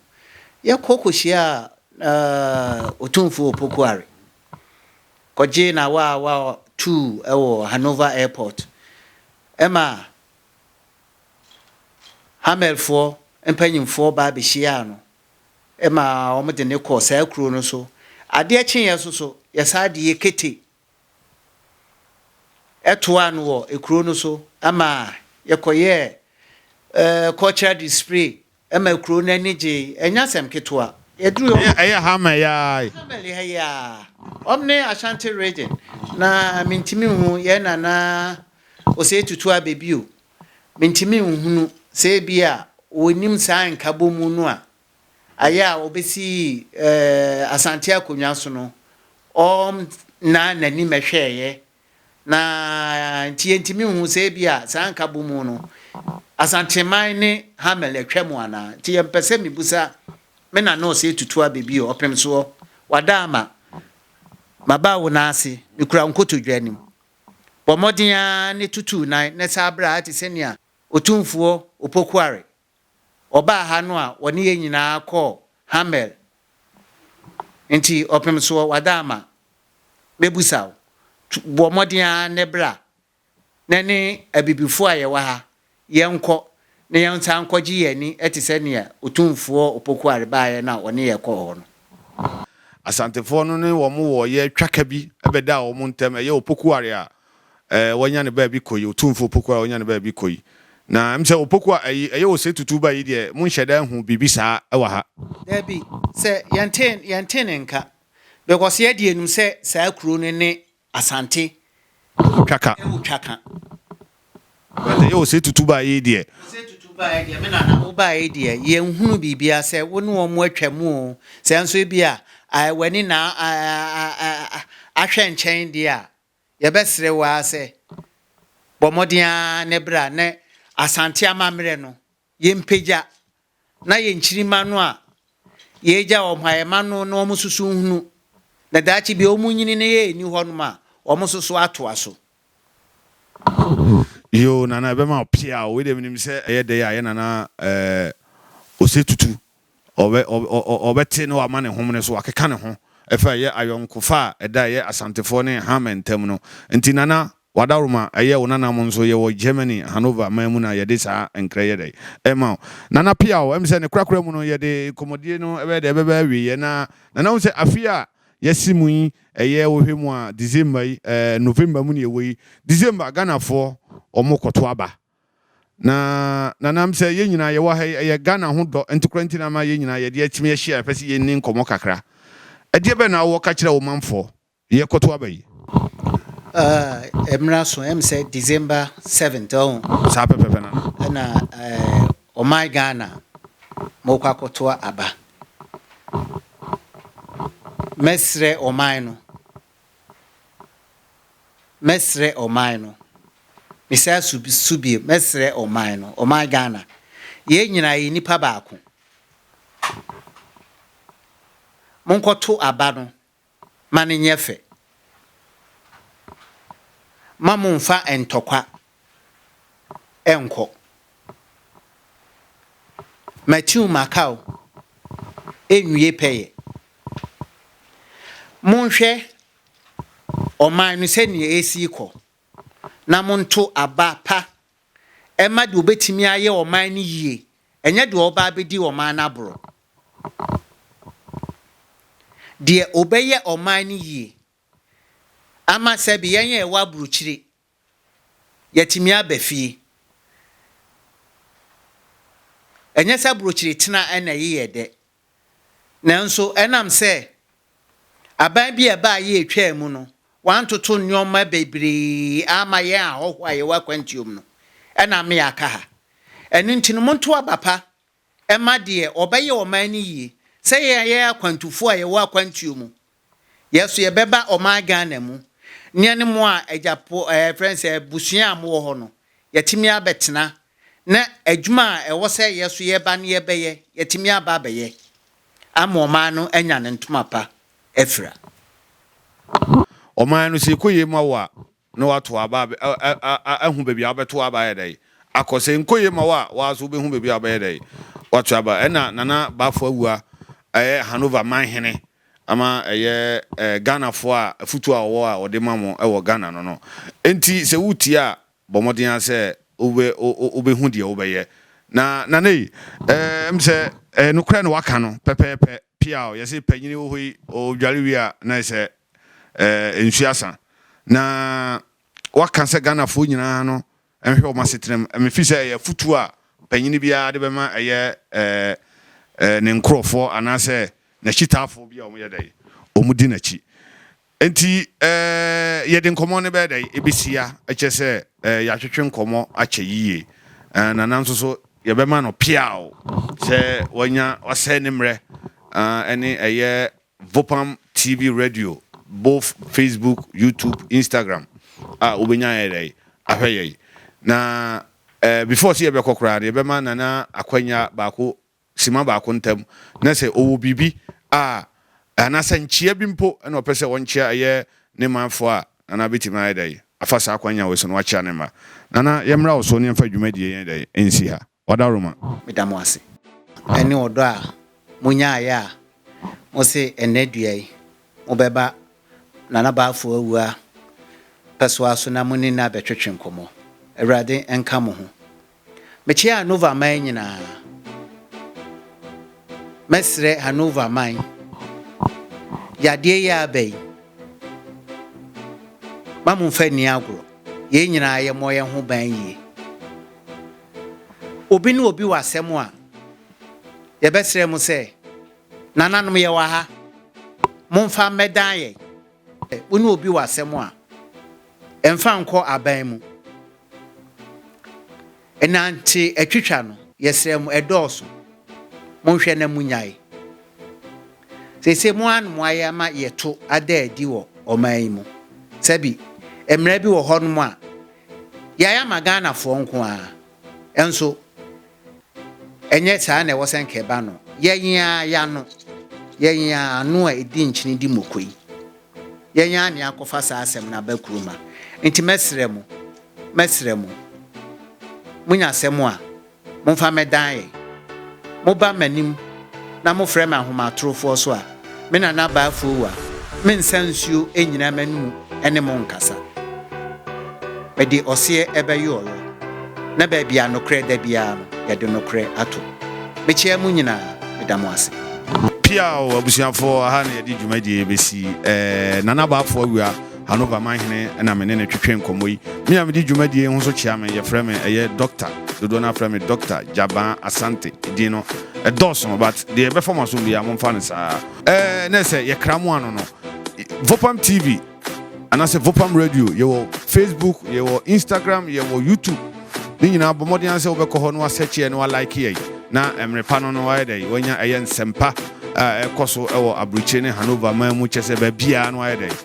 Yɛkɔ kɔhyia eh, Otumfoɔ Opokuare kɔgye na wa wa tuu wɔ Hanover Airport. Ɛmaa Hamelfoɔ mpanimfoɔ baa bɛhyiaa no ma wɔde no kɔɔ saa kuro no so. Adeɛ kyeeɛ nso so, yɛsan de Yekete toaa no wɔ kuro no so ma yɛkɔyɛɛ cultural display Ɛma kurow no ani gyei. Ɛnyɛ asɛm ketewa. Yɛduruu hɔ no. Ɛyɛ, ɛyɛ Hammer yi ara yi. Hammer ha yi ara. Wɔn ne Ashanti region. Na mintumi nhu yɛn nana Osei Tutu Abe bio. Mintumi nhunu sɛ ebia wɔnnim saa nkabom no a ayɛ a wɔbesii ɛɛ Asante akonnwa so no. Wɔn nnaa n'anim hwɛeɛ na nti yɛntumi nhu sɛ ebia saa nkabom no Asanteman ne Hamel atwam anaa. Nti yɛmpɛ sɛ mibusa me na nɔɔse atutu abɛ bio, ɔpem soɔ, wada ama, maba wo nan ase, mekura wo nkotodwe anim. Bɔ mmɔden ara ne tutu wo nan na san bra te sɛnea Otumfoɔ Opoku Are ɔbaa ha no a ɔne yɛn nyinaa kɔɔ Hamel nti ɔpem soɔ wada ama mɛbusa wo bɔ mmɔden ara ne bra na ne abibifoɔ a yɛwɔ ha yɛnkɔ na yɛnsa nkɔgye yɛn ani te sɛ nea Otumfoɔ Opokuare baeɛ no a ɔne yɛn kɔɔ hɔ no. Asantefoɔ no ne wɔn wɔ yɛ twaka bi ɛbɛdaa wɔn ntam ɛyɛ Opokuare a eh, wanya ne baabi kɔ yi, Otumfo Opoku a wanya ne baabi kɔ yi. Na ɛm sɛ Opoku a ayi, ɛyɛ ose tutu ba yi deɛ, monhyɛ da nhu biribi saa ɛwɔ ha. Dabi, sɛ yɛnte, yɛnte ne nka. Because yɛ deɛ yɛnim sɛ saa kuro no ne Asante. Ɛwɔ Twaka. Ɛwɔ Twaka. But ɛyɛ ose tutu ba yi deɛ. Ose tutu ba yi deɛ, me nana, wo ba yi deɛ, yɛnhunu biribiara sɛ wo ne wɔn atwa mu o. Sɛ nso ebi a, ah, w'ani na ah, ah, ah, ahwɛ nkyɛn deɛ a, yɛbɛsrɛ wo ara sɛ bɔ mmɔden ara na bra na Asante amammerɛ no yɛmpagya na yɛn nkyirimma no a yɛagya wɔn a yɛma no na wɔn nso so nhunu na daakye bi wɔn nyini na yɛn nni hɔnom a wɔn nso so atoa so. Yoo nana ɛbɛma wo pia o wei deɛ menim sɛ ɛyɛ dɛ yi a yɛ nana ɛɛ ose tutu Ɔbɛte na wama ne homene so akeka ne ho ɛfa ɛyɛ ayɔnkofa a ɛda ɛyɛ Asantefoɔ ne Hamer ntam no nti. Nana Wadaroma, ɛyɛ wo nana mo nso yɛwɔ Germany Hanover man mu na yɛde saa nkrɛ yɛ dɛn ɛma wo. Nana Piaw, ɛm sɛ ne korakora mu no yɛde nkɔmmɔdie no ɛbɛyɛ dɛn ɛbɛba awieɛ na Nana hu sɛ afeɛ a yɛasi mu yi ɛyɛ wohwɛ mu a December yi ɛɛ November mu na yɛwɔ yi, December Ghanafoɔ wɔn rekɔto aba Na na nam sɛ yɛn nyinaa yɛwɔ ha yi, ɛyɛ Ghana ho dɔ ntekora nti na ama yɛn nyinaa yɛde akyim yɛahyia a yɛpɛ sɛ yɛnni nkɔmmɔ kakra. Ɛdeɛ bɛn na wowɔ ka kyerɛ wo manfoɔ? Yɛkɔto aba yi. Ah, ɛmmra so, ɛm sɛ December 7th, ɔho. Saa pɛpɛpɛ, Nana. Ɛna eh, ɔman Ghana, mokɔ akɔto aba. Mɛsrɛ ɔman no Mɛsrɛ ɔman no. Mesan su su bio, mɛsrɛ ɔman no, ɔman Ghana. Yɛn nyinaa yɛ nnipa baako. Monkɔto aba no ma no nyɛ fɛ. Ma momfa ntɔkwa ɛnkɔ. Matiu Makau nwie pɛyɛ. Monhwɛ ɔman no sɛdeɛ ɛresi rekɔ na monto aba pa ɛma deɛ ɔbɛtumi ayɛ ɔman no yie, ɛnyɛ deɛ ɔba abɛdi ɔman no aborɔ. Deɛ ɔbɛyɛ ɔman no yie ama sɛbi yɛn a ɛwɔ aburokyire Yɛatumi aba fie. Ɛnyɛ sɛ aburokyire tena na ɛyɛ yɛ dɛ, nanso ɛnam sɛ aban bi a ɛbaa yɛ etwaa mu no, wɔantoto nneɛma bebree amma yɛn ahɔho a yɛwɔ akwantuom no, ɛna ama yɛaka ha. Ɛno nti no, monto aba pa Ɛma deɛ ɔbɛyɛ ɔman no yie. Sɛ yɛn a yɛyɛ akwantufoɔ a yɛwɔ akwantuo mu, yɛn so yɛbɛba ɔman Ghana mu, ne yɛne mo a agyapo ɛɛ yɛfrɛ no sɛ abusua a mowɔ hɔ no, yɛatumi abɛtena, na adwuma a ɛwɔ sɛ yɛn so yɛba no yɛbɛyɛ, yɛatumi aba abɛyɛ ama ɔman no anya ne ntoma pa afira. Ɔman no, sɛ ɛkɔ yei mu awo a, na watow aba a ahu baabi a wobɛtow aba ayɛ dɛn akɔ. Sɛ ɛnkɔ yie ma wo a, wo ara nso wobɛhu baabi a wobɛyɛ dɛn woatow aba. Ɛnna Nana Bafo Awuah, ɛyɛ Hanover man hene ama ɛyɛ Ghanafoɔ a afotuo a ɔwɔ a ɔde ma mo wɔ Ghana no no. Enti sɛ woretie a, bɔ mmɔden ara sɛ wobɛhu deɛ wobɛyɛ. Na Nana yi, ɛm sɛ nokorɛ na waka no pɛpɛɛpɛ. Piaw, yɛse panyini wɔ hɔ yi, ɔdware wie a na ayɛ sɛ eh, nsu asa. Na waka sɛ Ghanafoɔ nyinaa no nhwɛ wɔn asetena mu. Mefiri sɛ ɛyɛ afutuo a panyini biara de bɛma ɛyɛ eh, eh, ne nkorɔfoɔ anaasɛ n'akyitaafoɔ bi a wɔyɛ dɛ, wɔn di n'akyi. Nti eh, yɛde nkɔmmɔ no bɛyɛ dɛ, ɛbɛsia, ɛkyɛ sɛ eh, yɛatwetwe nkɔmmɔ akyɛ yie. Eh, na nanso so yɛbɛma no peaw sɛ wanya wasɛe ne mmerɛ ah, ɛne ɛyɛ Vopam TV Radio both Facebook, YouTube, Instagram a wobɛnya ayɛ dɛn ahwɛ yɛn. Na eh, before sɛ yɛbɛkɔ koraa no yɛbɛma Nana akwanya baako sima baako ntam na sɛ ɔwɔ biribi a anaasɛ nkyea bi mpo na ɔpɛ sɛ ɔnkyea ɛyɛ ne manfoɔ a Nana bɛtumi ayɛ dɛn afa saa akwanya wei so na wakyea ne mma. Nana yɛmmra wo so ne yɛmfa dwumadie yɛn dɛn ɛnsi ha. Ɔda Roma. Meda mo ase. Ɛne ɔdɔ a monyaeɛ a mose ɛnnɛ dua yi mobɛba Nana Baafoɔ awua pɛsoa so na mone no abɛtwetwe nkɔmmɔ. Awurade nka mo ho. Mekyeɛ Hanover man nyinaa. Mɛsrɛ Hanover man, yadeɛ yi a aba yi, ma momfa nni agorɔ. Yei nyinaa yɛmmɔ yɛn ho ban yie. obi ne obi wɔ asɛm a, yɛbɛsrɛ mo sɛ, nananom yɛwɔ ha, momfa mmɛdan yɛn. Wo ne obi wɔ asɛm a, ɛmfa nkɔ aban mu. Ɛnante atwitwa no, yɛsrɛ mo, ɛdɔɔso. Monhwɛ na munyae. Sese mo ano mo ayɛ ama yɛto ada adi wɔ ɔman yi mu. Sɛbi, mmara bi wɔ hɔnom a, Yɛayɛ ama Ghanafoɔ nko ara, nso ɛnyɛ saa na ɛwɔ sɛ nka ɛba no. Yɛn ara yɛano, yɛn ara ano a ɛdi nkyene di mmoko yi, yɛn ara na yɛakɔfa saa asɛm no aba kurom ha. Nti mɛsrɛ mo, mɛsrɛ mo, monya asɛm a, Momfa mɛ dan yɛ. Mo ba m'anim na mo frɛ me ahomatorofoɔ so a, me nana baa afuowa, me nsa nsuo nnyina m'anomu ne mo nkasa. Mede ɔseɛ ɛbɛ yo ɔyɔ, na baabi a nokorɛ da biara no yɛde nokorɛ ato. Me kyea mo nyinaa, me da mo ase. Piaw abusuafoɔ, aha na yɛde dwumadie yi bɛsi, ɛɛ Nana Baafoɔ awia. Hanover man hene na me ne no twetwe nkɔmmɔ yi. Me a medi dwumadie yi ho so kyea me, yɛfrɛ me, ɛyɛ Doctor, dodoɔ no ara frɛ me Doctor Gyabaa Asante. Edin no, ɛdɔɔso but deɛ ɛbɛfa mo asom biara momfa no saa. Ɛɛ, na ɛsɛ yɛkra mo ano no. Vopam TV anaasɛ Vopam Radio, yɛwɔ Facebook, yɛwɔ Instagram, yɛwɔ YouTube. Ne nyinaa bɔ mmɔden ara sɛ wobɛkɔ hɔ na wasɛkye yɛn na walike yɛn na mmerɛ pa no no wayɛ dɛ wanya ɛyɛ nsɛmpa a ɛkɔ so wɔ aburokyire ne Hanover man mu kyɛ sɛ baabiara no wayɛ dɛ